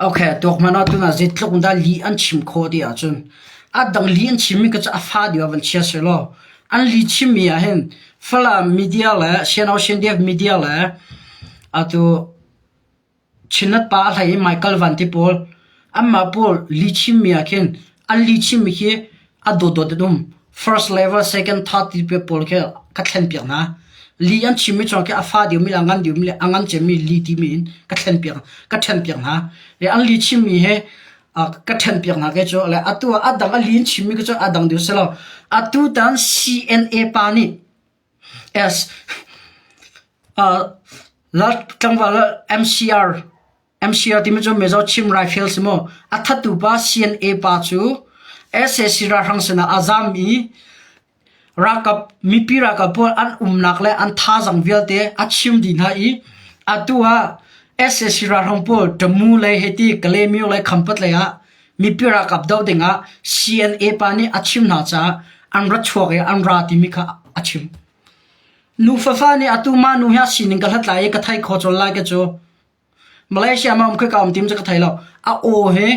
Okay, tuak hmanh ahcun zei tluk in dah lih an chim khawh ti ahcun a dang lih an chimmi kha cu a fa deuh ah van chia seh law an lih chimmi ah hin Falam media le Siangau Siandiak media le atu Chinat pa a hlei i Michael Van ti pawl anmah pawl lih chimmi ah khin an lih chimmi khi a dotdot in um. First le va second third tipi pawl khi ka thlen piak hna. Li an chimmi chung khi a fa diomi le a ngan diomi le a ngan cemmi li timi in ka thlen piak ka then piak hna. Le an li chimmi he ka then piak hna ke cu le atu ah adang a li in chimmi ke cu adang deu selo atu tan CNA pa nih as uh, la tlangwal MCR MCR timi cu Mizo Chin Rifle si maw, a thattu pa CNA pa cu SAC ralhrang sinah a zaam i ralkap mipi ralkap pawl an umnak le an thazang vialte a chim dih hna i atu ah SAC ralhrang pawl Tamu lei heti Kalemyo lei khampat lei ah mipi ralkap doh dingah CNA pa nih a chim hna caah an ra chuak i an ra timi kha a chim. Nu fafa nih atu mah nu hi a sining ka hlat lai i ka thai kho col lai ka cu Malaysia ma um kha ka um tim cu ka thei lo. A aw he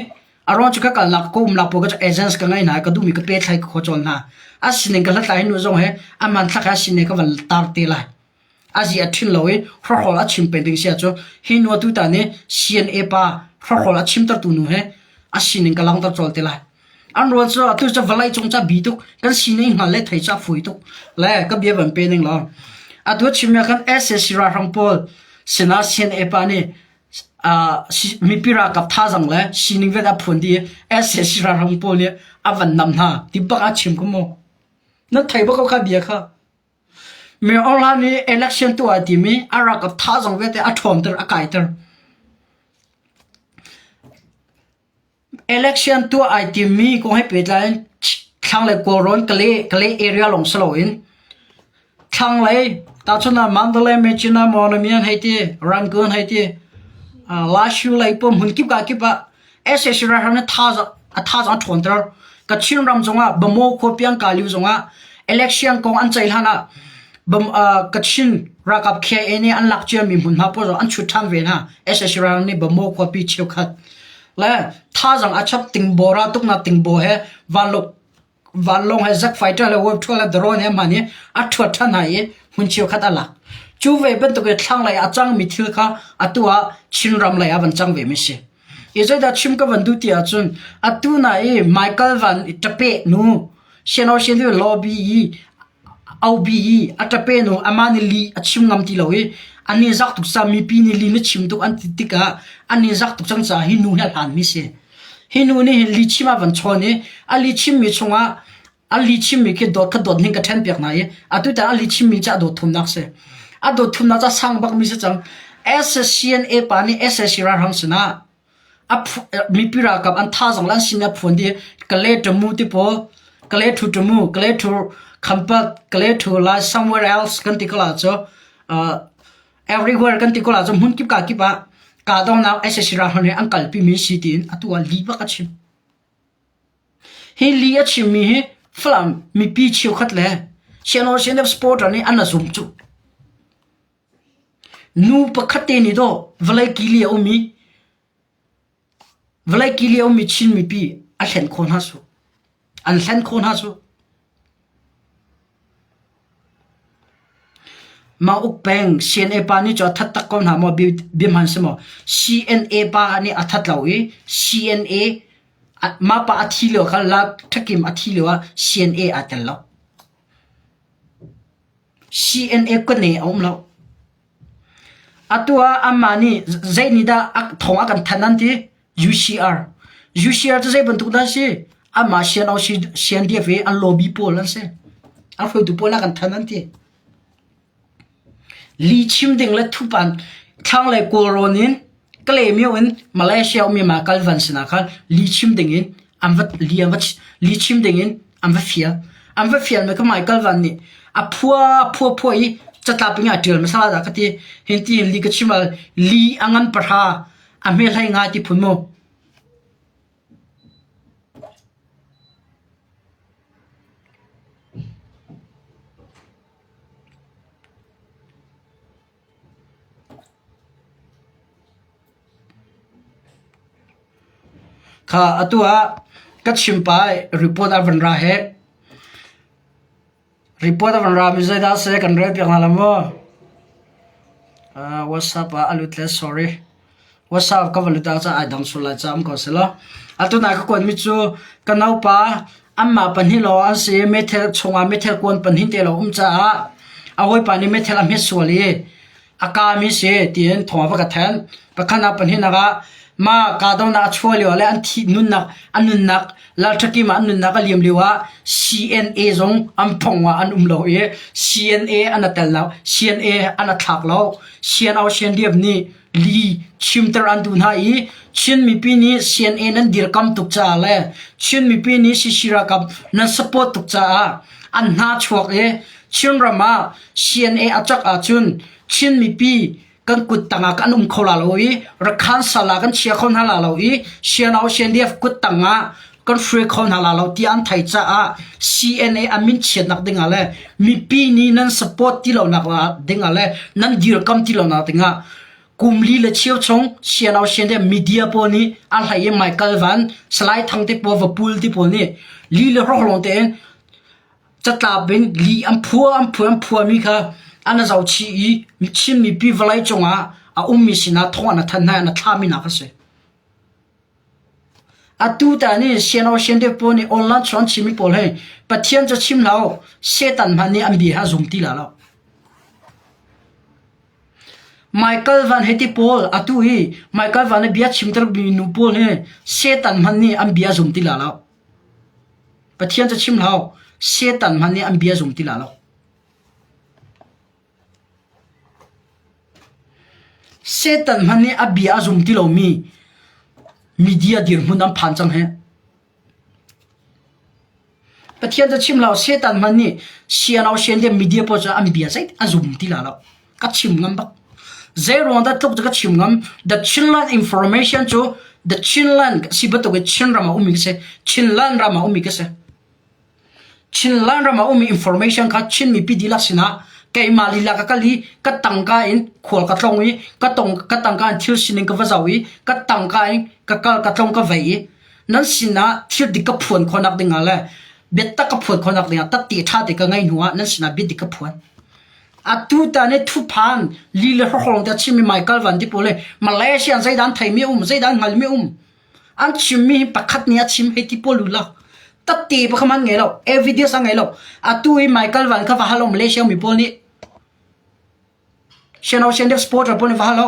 a rong cu ka kalnak ka umnak pawl ka cu agents ka ngei hna i ka duhmi ka pe thlai ka khaw cawn hna. A sining ka hlathlai hnu zong he aman thlak he a sining ka van tar te lai. A zi a thin lo i hrokhol a chim peng ding sia cu hi nu atu tan i CNA pa hrokhol a chimtertu nu he a sining ka langhter cawl te lai. An rual cu atu cu vawlei cung ca bi tuk kan sining hngal le thei ca fui tuk le ka bia van pe ning law atu chimia kan SAC ralhrang pawl sinah CNA pa nih mipi ralkap thazang le sining vet a phuan dih i SAC ralhrang pawl nih a van nam hna ti bak a chim kamu nan thei ba ko ka bia kha mi online i election tu ai timi a ralkap thazang vete a ṭhawmter a kaiter Election tuah ai timmi kong he pehtlai in thlanglei kawlrawn ka leh ka leh area lawng si loin thlanglei tahchun ah Mandalay, Mecina, Monamian hei ti Rangoon hei ti Lashu lei pum hmun kip ka kip ah SAC ralhrang nih thazaang a ṭhawn ter. Kachin ram zongah Bamo khua piangkaliu zongah election kong an ceih hlan ah Kachin ralkap KIA nih an lak ciami hmun hna pawl an chut ṭhan ve hna SSC ral nih Bamo khuapi cheukhat le thazang a chap tingbo ra tuknak tingbo he vanlok vanlong he Zack Fighter le World Tour le Drone he hman hi a ṭhuat ṭhan hna i hmun cheukhat a lak cu ve bantuk i thlanglei a cangmi thil kha atu ah Chin ram lei ah van cang ve mi si I zeidah chim ka van duh ti ahcun atu na i Michael Van i ṭapeh nu Shinawshin hi lobby i aubi i a ṭapeh nu amah nih li a chim ngam ti lo i an i zak tuk sa mipi nih li na chim tuk an ti tikah an i zak tuk cang caah hi nu hi a hlanmi a si. Hi nu nih hin li chim a van chawn i a li chimmi chungah a li chimmi khi dawt khat dawt hning ka ṭhen piak hna i atu tan a li chimmi cu a dawt thumnak si a dawt thumnak cu a sang bakmi si cang SSCNA pa nih SSC ralhrang sinah mipi ralkap an tha zong le an sin a phuan di kale ṭamu tipo kale thu ṭamu kale thu khampat kale thu lai somewhere else kan ti kala cu everywhere kan ti kala cu hmun kip ka kip ah kahdohnak SSC ralhrang nih an kalpi mi si tiin atu ah li bak a chim Hi li a chimmi hi Falam mipi cheukhat le Sianaw CNF supporter nih an a zumh cuh. Nu pakhat te nih daw vawlei kili a um i vawlei kili a ummi Chin mipi a hlen khawh hna cu. An hlen khawh hna cu. Mauk Peng CNA pa nih cu a that tak ko hna maw bia hman si maw? CNA pa nih a that lo i CNA mah pa a thi lio kha la ṭhakim a thi lio ah CNA aa tel lo. CNA kone a um lo. Atu ah anmah nih zeinihdah thawng a kan thanh an ti? UCR. UCR cu zeibantuk dah a si? Anmah CNO CNDF i an lobby pawl an si. An hruaitu pawl a kan thanh an ti. Li chim ding le thupan thlanglei kawlrawn in Kalaymyo in Malaysia ummi Mal Kal Van sinah khan li chim dingin an va li an va li chim dingin an va fial an va fial mi kha Mal Kal Van nih a phua phua phua i catlap ping a tial masala da ka ti hin ti li ka chimal li angan pahra a hme hlai ngai ti phun mu Kha atu ah ka chim pai report a van ra hi. Report a van ra mi zeidah a si kan rel piak hna lo maw? Uh, WhatsApp ah a lut le sorry. WhatsApp ka va lut ah cun ai dang sual lai caam ko selaw. Atu nai ka kuan mi cu ka naupa anmah pahnih lawng an si i meithal chungah meithal kuan pahnih te lawng um caah a hawipa nih meithal a hmet sual i a ka mi si tiin thawng a va ka then. Pakhat ah pahnih nak ah mah kahdohnak a chuah lio ah le an thih nunnak a nunnak Lalṭhakim ah an nunnak a liam lio ah CNA zong an phong ah an um lo i CNA an a tel lo. CNA an a thlak lo. Sian Aung Sian Diap nih li chimter an tu hna i Chin mipi nih CNA nan dirkam tuk caah le Chin mipi nih Sishira kam nan support tuk caah an hna chuak i Chinram ah CNA a cak ahcun Chin mipi kan kut tangah kan um kho la lo i rakhan sal ah kan chia kho hna la lo i Sianau Sianliaf kut tangah kan hruai kho hna la lo ti an thai caah CNA a min chiatnak dingah le mipi ni nan support ti lo nak dingah le nan dirkam ti lo nak dingah kumli le chiu chung Sianau Sianliaf media po ni a hlai e Michael Van Salai Thang te po vapul ti po ni li le roh long te catlap in li an phua an phua an phua mi kha an a zo chih i chinmi pi vawlei cungah a ummi sinah thong an a thanh hna an a thlami nak a si atu ta ni siano sian de po ni online chuan chimi pawl he pathian cho chim lo setan man ni an bia ha zum ti la lo Michael van heti paul atu hi Michael van a bia chim ter mi nu paul he setan man ni an bia zum ti la lo Pathian cu chim hlah u, Satan hmanh nih an bia zum ti la lo. Satan hmanh nih a bia a zum ti lomi media dirhmun an phan cang hih. Pathian cu chim hlah u, Satan hmanh nih sian au sian tiah media pawl cu an bia zeitik a zum ti la lo. ka chim ngam bak zei ruang dat tluk ka chim ngam the Chinland information chu the Chinland si batuk e Chinram a umi se Chinland ram a umi ke se Chinland ram a umi information kha Chin mi pi dila sina keima li la ka kali ka tangka in khwal ka tlong i ka tong ka tangka in thil sining ka vazau i ka tangka in ka kal ka tlong ka vei nan sina thil dik ka phuan khonak ding ale bet tak ka phuan khonak ding ta ti tha te ka ngai nuwa nan sina bit dik ka phuan Atu tan i thuphan li le hrokhrawng te chim mi Michael Van ti pawl le Malaysia an zeidan thei mi um zeidan hngal mi um an chim mi pakhat ni a chim hei ti pawl lula tatti pa khaman ngai lo evidence a ngai lo atu i Michael Van kha va halo Malaysia mi pawl nih Channel Shan Sport ra pon va halo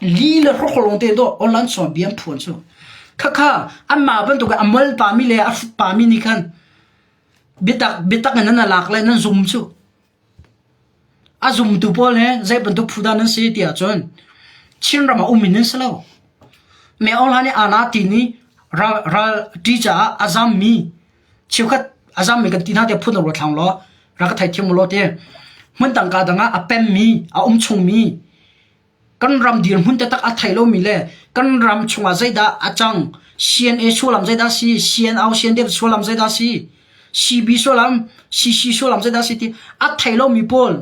Li le hrok lawng te dawh Awlan sawng biam phuan cu. Khakha anmah bantuk i a mal pami le a hruk pami nih khan biatak biatak in nan a lak le nan zum cu. A zumtu pawl he zei bantuk phu dah nan si ti ahcun Chinram ah um in nan si lo. Mi ohan i aa na tiin i ral, ral ṭi caah a zammi cheukhat a zam mi kan ti hna te phun ro thlang law ra ka thai thiam lo te hmun tang ka dang a pem mi a um chung mi kan ram dir hmun te tak a thai lo mi le kan ram chunga zaida a chang CNA sulam zaida si CNO CNDF sulam zaida si CB sulam CC sulam zaida si ti a thai lo mi pawl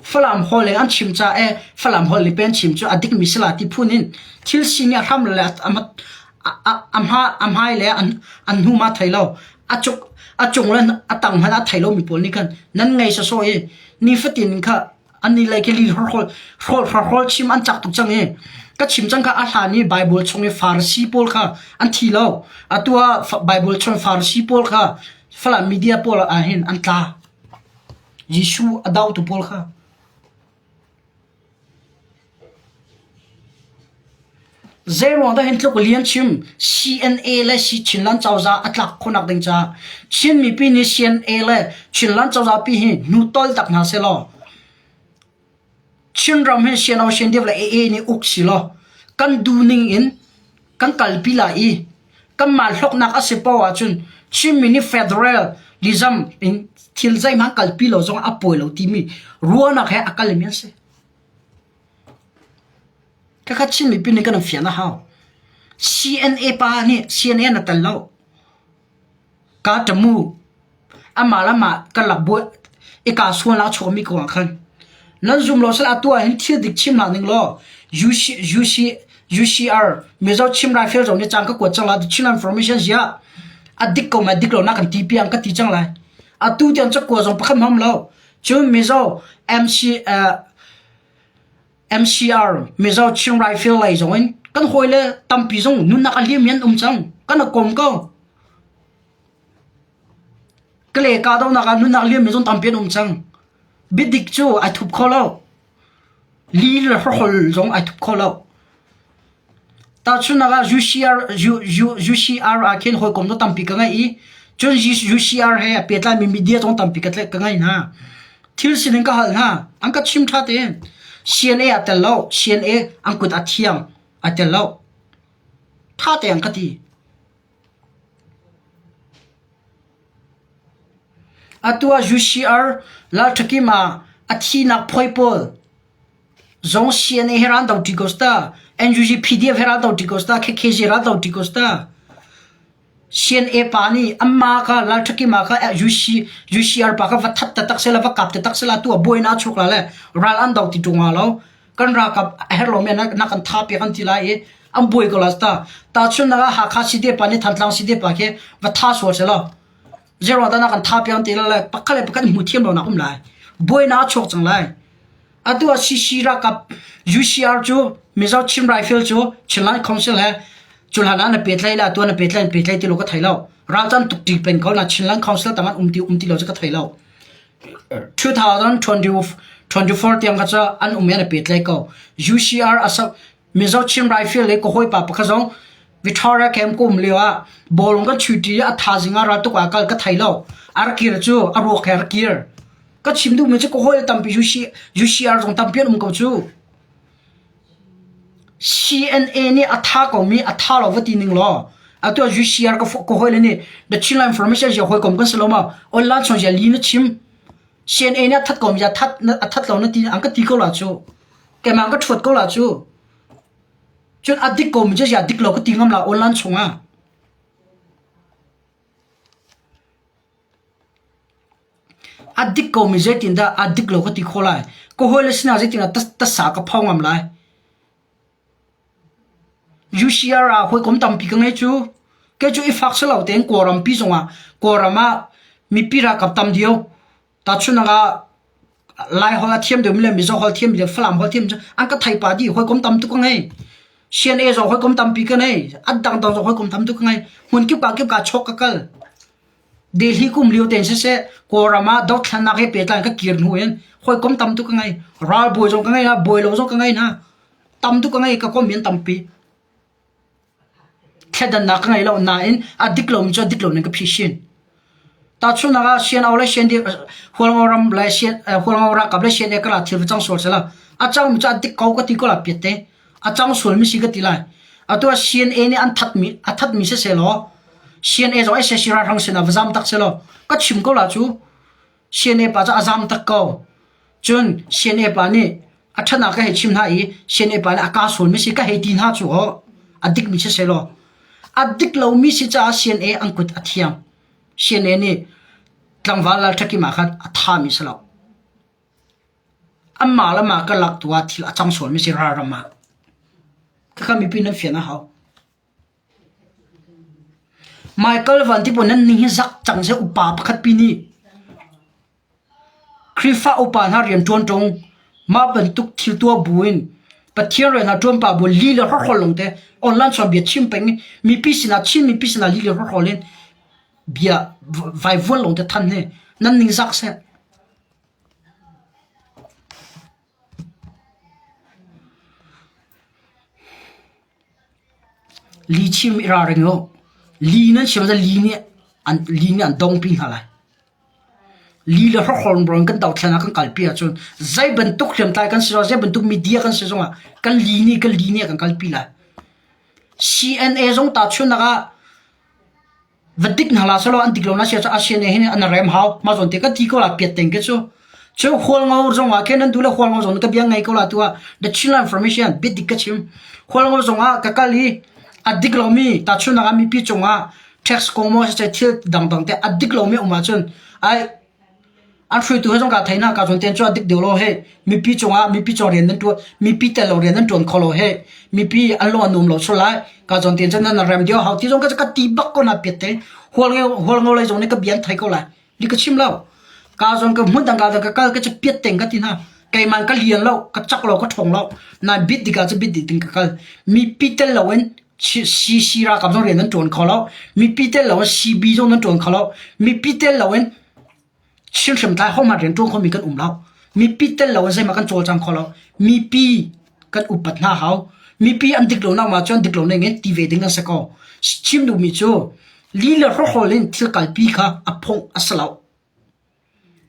Falam holh in an chim caah ee Falam holh lipe an chim cu a dikmi si la ti phun in thil si nih a hram le a hmai le an hnum a thei lo. A cung le a tang hmanh a thei lomi pawl nih khan nan ngei sawsawh i nifatin in kha annih lei khi hrawlhrawl chim an chak tuk cang i ka chim cang kha a hlan i Baibal chung i Farasi pawl kha an thi lo. Atu ah Baibal chung i Farasi pawl kha Falam media pawl ahhin an tla. Jesuh a dotu pawl kha zeiruangdah hin tluk lian chim CNA le Chinland cozah a tlak khawhnak ding caah Chin mipi nih CNA le Chinland cozahpi hi hnu toltak hna sehlaw. Chinram hi sianau siandeuh le ee nih uk silaw kan duhning in kan kalpi lai i kanmah hloknak a si paoh ahcun Chinmi nih federal reserve in thil zeihmanh kalpi lo zongah a pawi lo timi ruahnak he a kalmi an si. Khakha Chin mipi nih kan in fian a hau. CNA pa nih CNA an tel lo. Kaa ṭam u. Amah le amah karlak buah i kaa sual ah a chuakmi kongah khan. Nan zum law sal atu ahhin thil dik chimnak ning law UCR Mizo Chim Raifel zong nih caan ka kuat cang lai. The Chin Information ziah a dik ko maw a dik lo nak an ti piang ka ti cang lai. Atu tiang cakuat zong pakhat hmam lo. Cun Mizo MC uh, MCR Mizo Chin Rifle lei zong in kan hoi le tampi zong nunnak a hliam an um cang kan a kom ko kale ka do nak ah nunnak liam mi zon tampi an um cang bidik cu ai thup kho lo li le hrohol zong ai thup kho lo Tahchunhnak ah, UCR ah khin hawikom dang tampi ka ngei i cun UCR he a pehtlaimi media zong tampi ka ngeih hna. Thil sining ka hal hna. An ka chim ṭha tein. CNA ah tel lo. CNA an kut a thiang. Ai tel lo. Ṭha tein an ka ti. Atu ah UCR ralṭhakim ah a thihnak phawi pawl Zong CNA hi ral do ṭi ko sita, NUG PDF hi ral do ṭi ko sita, KKZ ral do ṭi ko sita. CNA pa nih anmah kha Lalṭhakima kha UCR pa kha va that tatak sela, va kap tatak sela, atu a buai na a chuk la le ral an do ti ṭung hnga lo. Kan ralkap a herh lomi nak an tha piak an ti lai i an buai ko la sita. Tahchun nak ah Hakha CDA pa nih Thantlang CDA pa khi va tha sual seh law. Zero ta nak an tha piang ti lai pakhat le pakhat hmu thiam lo nak um lai buaina chuak cang lai atu a CC rakap UCR chu Mizo Chin Rifle chu Chinland Council he chulhan an pe tlai la tu an pe tlai pe tlai ti lo ka thai lo ralchan tuk ti pen ko na Chinland Council tangan um ti um ti lo ka thai lo 2024 tiang ka cha an um yan pe tlai ko UCR asak Mizo Chin Rifle le ka hawipa pakhat zong Victoria camp ka um lio ah bawlung kan chuti i a thazing ah raltuk ah kal ka thei lo. A rak kir cu a ruak he a rak kir. Ka chim duhmi cu ka hawi tampi UCR zong tampi an um ko cu. CNA nih a tha komi a tha lo va ti ning law atu UCR ka ka hawi le nih the Chinland Information ya hawi kom kan si lo ma online son ya li na chim CNA nih a that kom ya that a that lo na ti an ka ti ko la chu Keimah ka ṭhuat ko la cu. Cun a dik komi cu ziah dik lo ka ti ngam la online chungah. A dik komi zeitindah a dik lo ka ti kho lai. Ka hawile sinah zeitindah tasa ka pho ngam lai. UCR ah hawikom tampi ka ngei cu. Kei cu i fak si lo tein Kawlram pi zongah Kawlram ah mipi ralkap tam dio Tahchunhnak ah Laiholh a thiam deuhmi le Mizo holh thiam le Falam holh thiam an ka theihpah dih hawikom tam tuk ka ngei. CNA zong hawikom tampi ka ngei. An dangdang zong hawikom tam tuk ka ngei. Hmun kip ah kip ah chawk ka kal. Delhi kum lio tein siseh, Kawlram ah dothlannak he pehtlai in ka kir hnu in hawikom tam tuk ka ngei. Ralbawi zong ka ngei na, bawi lo zong ka ngei na. Tam tuk ka ngei, ka kom in tampi. Thletdannak ka ngei lo nain a dik lomi cu a dik lo ning ka phi hrin. Tahchunhnak ah Siangau le Siandirh Hualngo ram le Sian- eh, Hualngo ralkap le Siandirh kar ah thil va cang sual seh law a cangmi cu a dik ko ka ti ko la piat te. A cang sualmi si ka ti lai. Atu ah CNA nih an thatmi a thatmi siseh law CNA zong ai seh si ralhrang sin ah va zam tak seh law ka chim ko la cu. Siane pa cu a zaam tak ko. Cun Siane pa nih a ṭhanak ka hei chim hna i Siane pa nih a kaa sualmi si ka hei ti hna cu aw. A dikmi si seh law. A dik lomi si caah Siane an kut a thiang. Siane nih tlangval lal ṭhakim ah khan a thami si lo. Anmah le mah karlak tu ah thil a cang sualmi si ralram ah. Khakha mipi nan fian a hau. Michael Van Tipun nan ning hi zak cang seh upa pakhat pi nih Khrihfa upa hna rian ṭuan ṭung mah bantuk thil tuah bu in Pathian rian ah ṭuan pa bu li le hrawhrawl lawng te online chawnbia chim peng i mipi sinah Chin mipi sinah li le hrawhrawl in bia vaivuan lawng te than hi nan ning zak seh. Lichim i ralring u. Li nan si maw li nih an dongpi hna lai. Li le hrokhorn bor in kan dothlen ah kan kalpi ahcun zei bantuk hriamtlai kan si zong, zei bantuk media kan si zongah kan li nih kan li nih a kan kalpi lai. CNA zong tahchunhnak ah va dik hna la selaw an dik lo na sia a sian hin an rem hau ma zon te ka ti ko la piat ten ke chu chu hual ngo zong wa khen an du la hual ngo zon ka biang ngai ko la tua the children information bit dik ka chim hual ngo zong a ka kal hi a dik lo mi ta chu na mi pi chunga tax komo se thil dang dang te a dik lo mi uma chun ai An hruaitu he zong kaa thei na kaa cawn tein cuah dik deuh law heh mipi cungah mipi cawng rian nan ṭuan mipi tel lo rian nan ṭuan kho lo heh mipi an lung an um lo sual lai kaa cawn tein cun nan rak rem dio hau ti zong ka ka ti bak ko na piat te hual ngeu hual ngeu lei zong nih ka bian thai ko lai ni ka chim lo kaa cawn ka hmun dang kaa dang ka kal ka ca piat teng ka ti na keiman ka lian lo ka chak lo ka ṭhong lo na bit dika cu bit ding ka kal mipi tel lo in Sii ralkap zong rian nan ṭuan kho lo. Mipi tel loin CB zong nan ṭuan kho lo. Mipi tel loin Chin hriamtlai hohmanh rian ṭuan khomi kan um lo. Mipi tel loin zeihmah kan cawlcang kho lo. Mipi kan upat hna hau. Mipi an dik lonak ma cun dik lo ning in ti ve ding kan si ko. Chim duhmi cu, li le hrohrawl in thil kalpi kha a phung a si lo.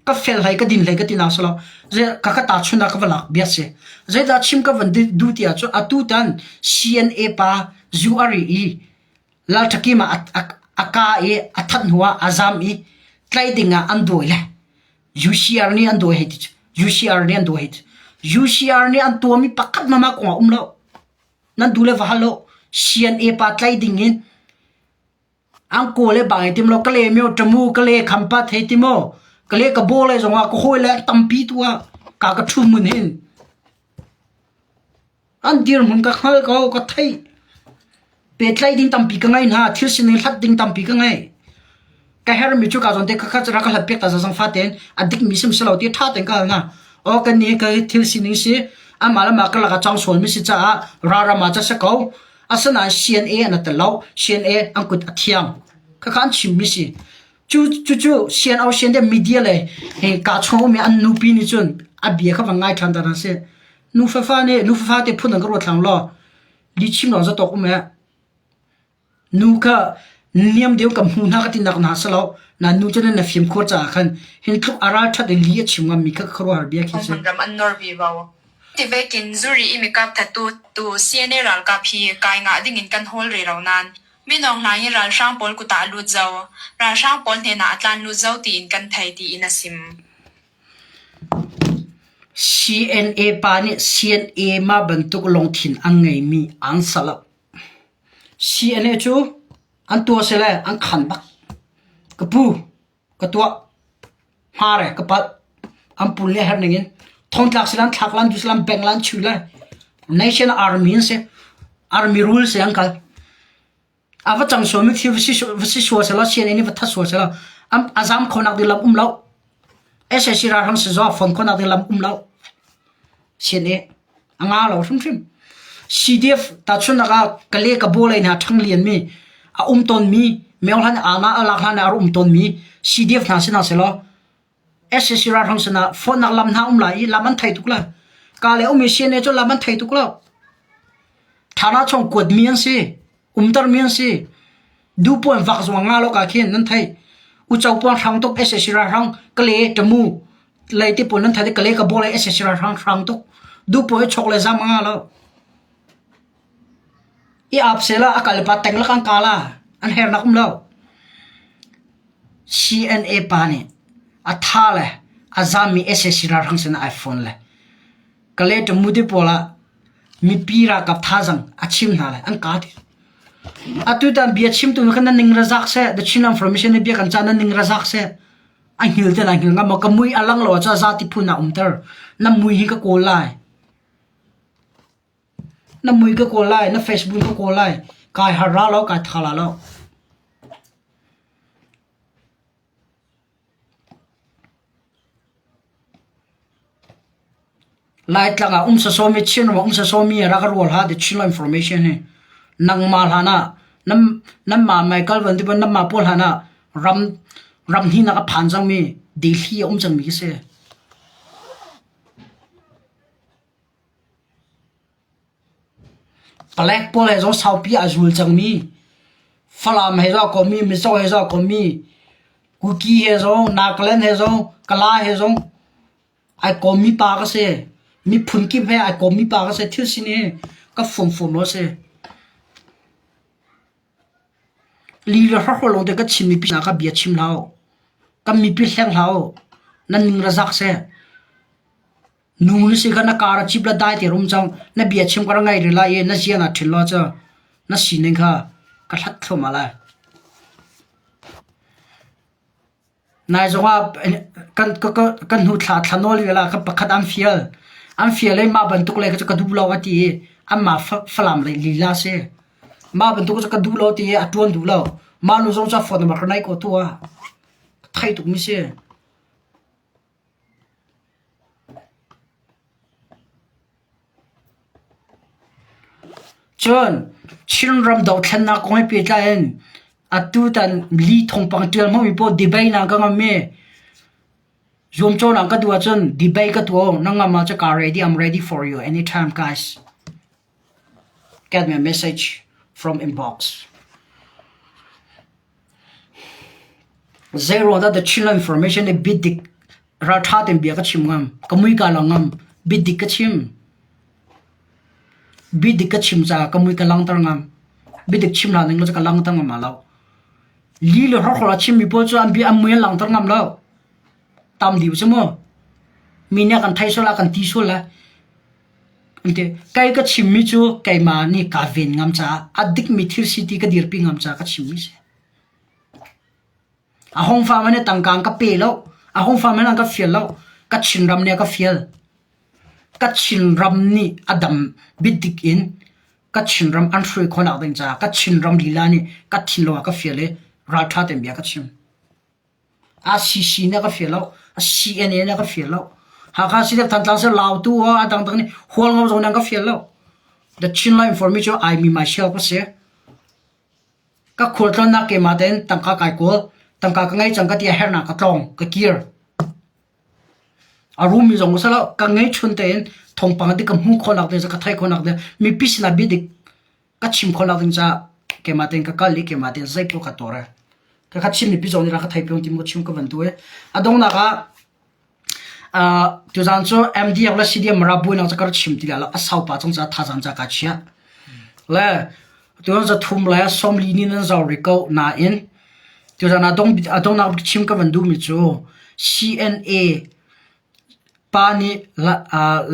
ka fel hlei ka din hlei ka ti nak selaw zei ka ka tahchun ah ka va lak bia si zeidah chim ka van duh ti ah cu atu tan CNA pa zu a ri i lal thaki ma a ka i a that hnu ah a zam i tlai ding ah an dawi le UCR nih an dawi hei ti cu UCR nih an dawi hei ti UCR nih an tuam i pakhat mama kong ah um lo nan du le va hal lo CNA pa tlai ding in Angku le bang i tim law ka le meo ṭamu ka le khampa thei ti maw ka le ka baw le zongah ka hawi le tampi tu ah ka ka ṭhu mun hin an dir hmun ka hngal ko ka theih petlaih ding tampi ka ngei hna thil sining hlat ding tampi ka ngei ka hermi cu ka zon te khakhat ra ka hlat piak ta zang fa ten a dik mi sim selo ti ṭha ten ka hal na o kan ni ka thil sining si amah le ma ka laka chang sual mi si caah rara ma cha se ko Asinain CNA an tat lo. CNA an kut a thiang. Khakha an chimmi si. Cu cucu CNO CNDM media le ka chungmi an nupi nih cun a bia kha van ngai ṭhan ta hna si. Nu fafa nih nu fafa te phun an ka ruat hlang law li chim lo za tok um he nu kha niam deu kan hmu hna ka tinak na si lo na nu cu na fim khur caah khan hin tluk ara ṭhat i li a chim ngam mi kha khuaruahhar bia khi si. Kan dam an nor ve bao. Tibet in zuri i mikap thattu tu CNA ralkap hi kai ngah ding in kan hawl rih lo nain Minung hna hi ralhrang pawl kut ah a lut zau. Ralhrang pawl hnenah a tlan lut zau tiin kan thei tiin a sim. CNA pa nih CNA-ma bantuk lungthin an ngeimi an sal a. CNA cu an tuah sele an khan bak. Ka pu, ka tuah, hmar e ka palh, an pul le herh ning in thongtlak si lan, thlak lan, du si lan, beng lan, chui lan, nation army an si, army rule si an kal. A va cang suami thi va si va si sua se lo, CNN i va that sua se lo, am a zam khonak di lam um lo, SSC ralram si zuah, fon khonak di lam um lo, CNN. a nga lo hrimhrim CDF tachunnak ah ka le ka bawlei hna ṭhang lianmi a um tonmi meohlan aama a lak hlan ah um tonmi CDF hna sinah selaw SSC ralhrang sinah phone lam hna um lai i lam an thei tuk la ka le um i CNA cu lam an thei tuk lo thana chung kuat mi an si umter mi an si du puan vak zuang nga lo ka khin nan thei u chau puan hrang tuk ss ra hrang kale tamu lei ti pun nan thai kale ka bolai ss ra hrang hrang tuk du puan chok le zam nga lo i ap sela akal pa teng lakan kala an her nakum lo CNA pa ni atha le azami ss ra hrang sen iphone le Kalay Tamu te pawl ah mipi ralkap thazaang a chim hna lai an kaa ti. Atutan bia chimtu nih khan nan ning ra zak seh the Chin information nih bia kan cah nan ning ra zak seh a hngil ten a hngil ngam ka mui a lang lo ah za ti phun ah umter na mui hi ka kawl lai na mui ka kawl lai na Facebook ka kawl lai kai har ra lo kai tha la lo Laitlang ah um sasawmi, Chinram ah um sasawmi a rak rual ha ti Chinlo information hi. Nangmah hlan ah, nanmah Michael Van tiban nanmah pawl hlan ah ram ram hninak a phan cangmi Delhi a um cangmi khi si. Palek pawl he zaw saupi aa zul cangmi, Falam he zaw kommi, Mizo he zaw kommi, Kuki he zaw, Nagaland he zaw, Kala he zaw ai kawmmi pa ka si. Miphun kip he ai kawmmi pa ka si. Thil sin hi ka fumfum law a si. Li le hrohro lawngte ka chim mipi hna kha bia chim hlah u. Kan mipi hleng hlah u. Nan ning le zak seh. Nu hi sikhat na car a cip le dai te rum cang. Na bia chim kar a ngei rih lai i na ziah na ṭhil law cu na sining kha ka hlat thluahmah lai. Nai zongah kan ka, ka, kan hnu thla thla nawl ila ka pakhat an fial. An fial i mah bantuk le ka duh lo a ti i anmah falam lei lila si. Mah bantuk cu ka duh lo ti i a ṭuan duh lo. Mah nu zong cu phone number ka nai ko tu ah. Thai tuk mi si. Cun Chinram dothlennak kong he pehtlai in atutan li thawngpang tial hmangmi paoh debate ah kan um i zuamcawhnak ka duh ahcun debate ka tuah u. Na ngam ahcun ka ready, I'm ready for you anytime guys. Get me a message from inbox. Zeiruangdah the Chinland information le biadik ralṭha tein bia ka chim ngam. Ka mui kaa lang ngam. Biadik ka chim. Biadik ka chim caah ka mui ka langhter ngam. Biadik chim hna ning cu ka langhter ngam hna lo. Li le rorhor a chimmi pawl cu an bia an mui an langhter ngam lo. Tam liu cu mu. Mi nih a kan theih sual a kan ti sual le. Kei ka chimmi cu keimah nih kaa ven ngam caah a dikmi thil si ti ka dirpi ngam caah ka chimmi a si. A hong fa man hi tangka in ka pe lo. A hong fa man in an ka fial lo. Ka thingram nih a ka fial. Ka thingram nih a dam biadik in ka thingram an hruai khawhnak ding caah ka thingram lila nih ka thin lo ah ka fial i ralṭha tein bia ka chim. ACC nih a ka fir lo, a CNA nih a ka fir lo. Hakha City of Thantlang seh Lau tu ah a dangdang nih hualngam zong nih an ka fir lo. The Chinland Information cu ai mi myself a si. Ka khualtlawnnak keimah tein tangka kai kawl, tangka ka ngei cang ka tia herhnak ka tlawng, ka kir. A rum mi zong seh lo, ka ngei chun tein thongpang dik ka hmuh khawhnak ding, ka thai khawhnak ding, mipi sinah bia dik ka chim kho lo ding ca keima ten ka kal i keima ten zeipaw ka tor e ka kha chim mi pi zong ni ra ka thai pyong tim ko chim ka van tu e a dong na ka tu zan chu MDF la CDM mara bu na ka chim ti la a sau pa chong cha tha zan cha ka chia le tu zan thum la som li ni nan zau ri ko na in tu zan a dong a dong na chim ka van du mi chu CNA pa ni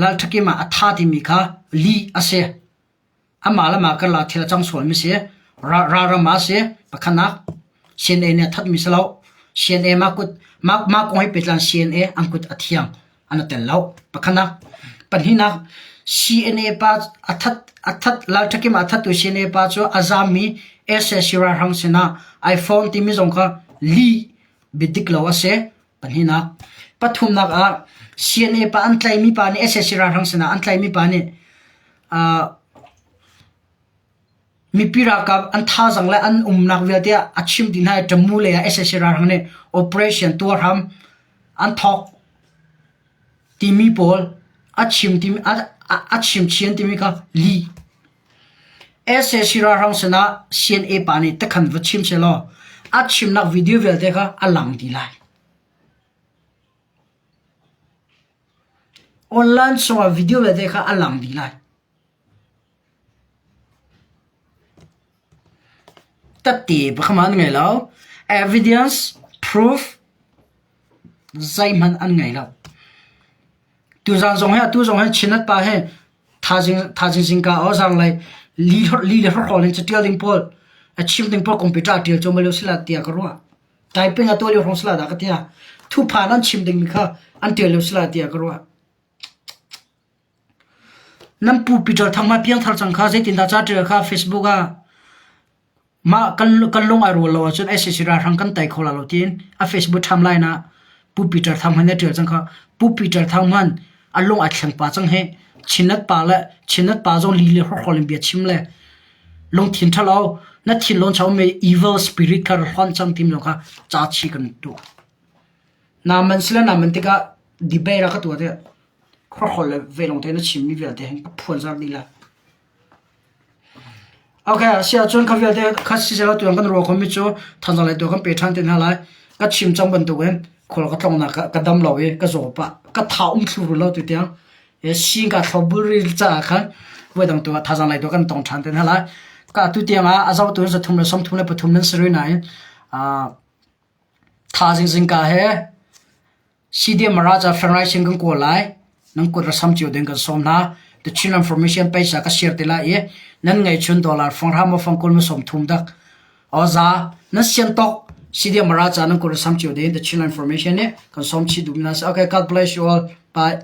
lal thakima a tha ti mi kha li ase Amah le mah karlak thil a cang sualmi a si. Ralram ah a si. Pakhatnak, CNA nih a thatmi si loh. CNA mah kut, mah, mah kong he pehtlai in CNA an kut a thiang. An a tel loh. Pakhatnak, pahnihnak, CNA pa a that, a that, Lalthakim a thattu CNA pa cu a zaammi SAC ralhrang sinah ai fawng timi zong kha lih biadik lo a si. Pathumnak ah CNA pa an tlaimi pa nih sac ralhrang sinah an tlaimi pa nih mipi ralkap an thazang le an umnak vialte ah a chim dih hna i Ṭamu lei ah sac ralhrang nih operation tuar hram an thawk timi pawl a chim chin timi kha li. SA Sii ralhrang sinah CNA nih takhan va chim sehlaw a chimnak video vialte kha a lang ti lai. Online sungah video vialte kha a lang dih lai. Tatti pakhaman ngai lo. Evidence, proof, zeihmanh an ngai lo. Tuzaan zong hi atu zong hi Chin Atpa hi thazing zingka aw zanglei li le hlorhlawl in catial ding pawl a chim ding pawl kumpi ṭa ṭial cuam lo sila tiah ka ruah. Taiping a tual i hrong sila dah ka tia. Thuphan an chim ding mi kha an ṭial lo sila tiah ka ruah. Nan pu Peter Thang ma piang thar cang kha zeitin dah ca ṭial kha Facebook ah Mah kan lung ai rual lo ahcun SAC ralhrang kan tei kho la lo tiin a Facebook timeline ah Pu Peter Thang hmanh nih a tial cang kha. Pu Peter Thang hmanh a lung ai thleng pah cang hi. Chinat pa le Chinat pa zong li le hawrhrawl in bia chim le lungthin ṭhalo na thinlung chang ummi evil spirit kha ra hlonh cang timi zong kha ca chih kan duh. Naman sile naman tikah debate rak ka tuah tiah hawrhrawl le velawng tein a chimmi vialte hin ka phuan zar dih la. A si ahcun kha vialte kha siseh tuan kan ruah khomi cu thanzang lei tu kan pe ṭhan te hna lai. Ka chim cang bantukin khual ka tlongnak ka dam lo i ka zaw pah ka tha um thlurul lo tu tiang sing ka thlo buri caah khan voi dang tu thazang lei tu kan tong ṭhan te hna lai. Ka tu tiang ah a zotu zathum le sawmthum le pathum nan si rih nain tha zingzing ka he Sidiam Raja Fenraisen kan kawl lai. Nan kut ra sam cio ding kan sawm hna. The Chinland Formation paisa ka share te lai i nan ngei chun dollar fanghra ma fang kul ma som thum dak. Oza nan sian tok Sidiam Raja nan kut ra sam cio ding The Chinland Formation ni kan sawm chi dum na. Okay, God bless you all. Bye.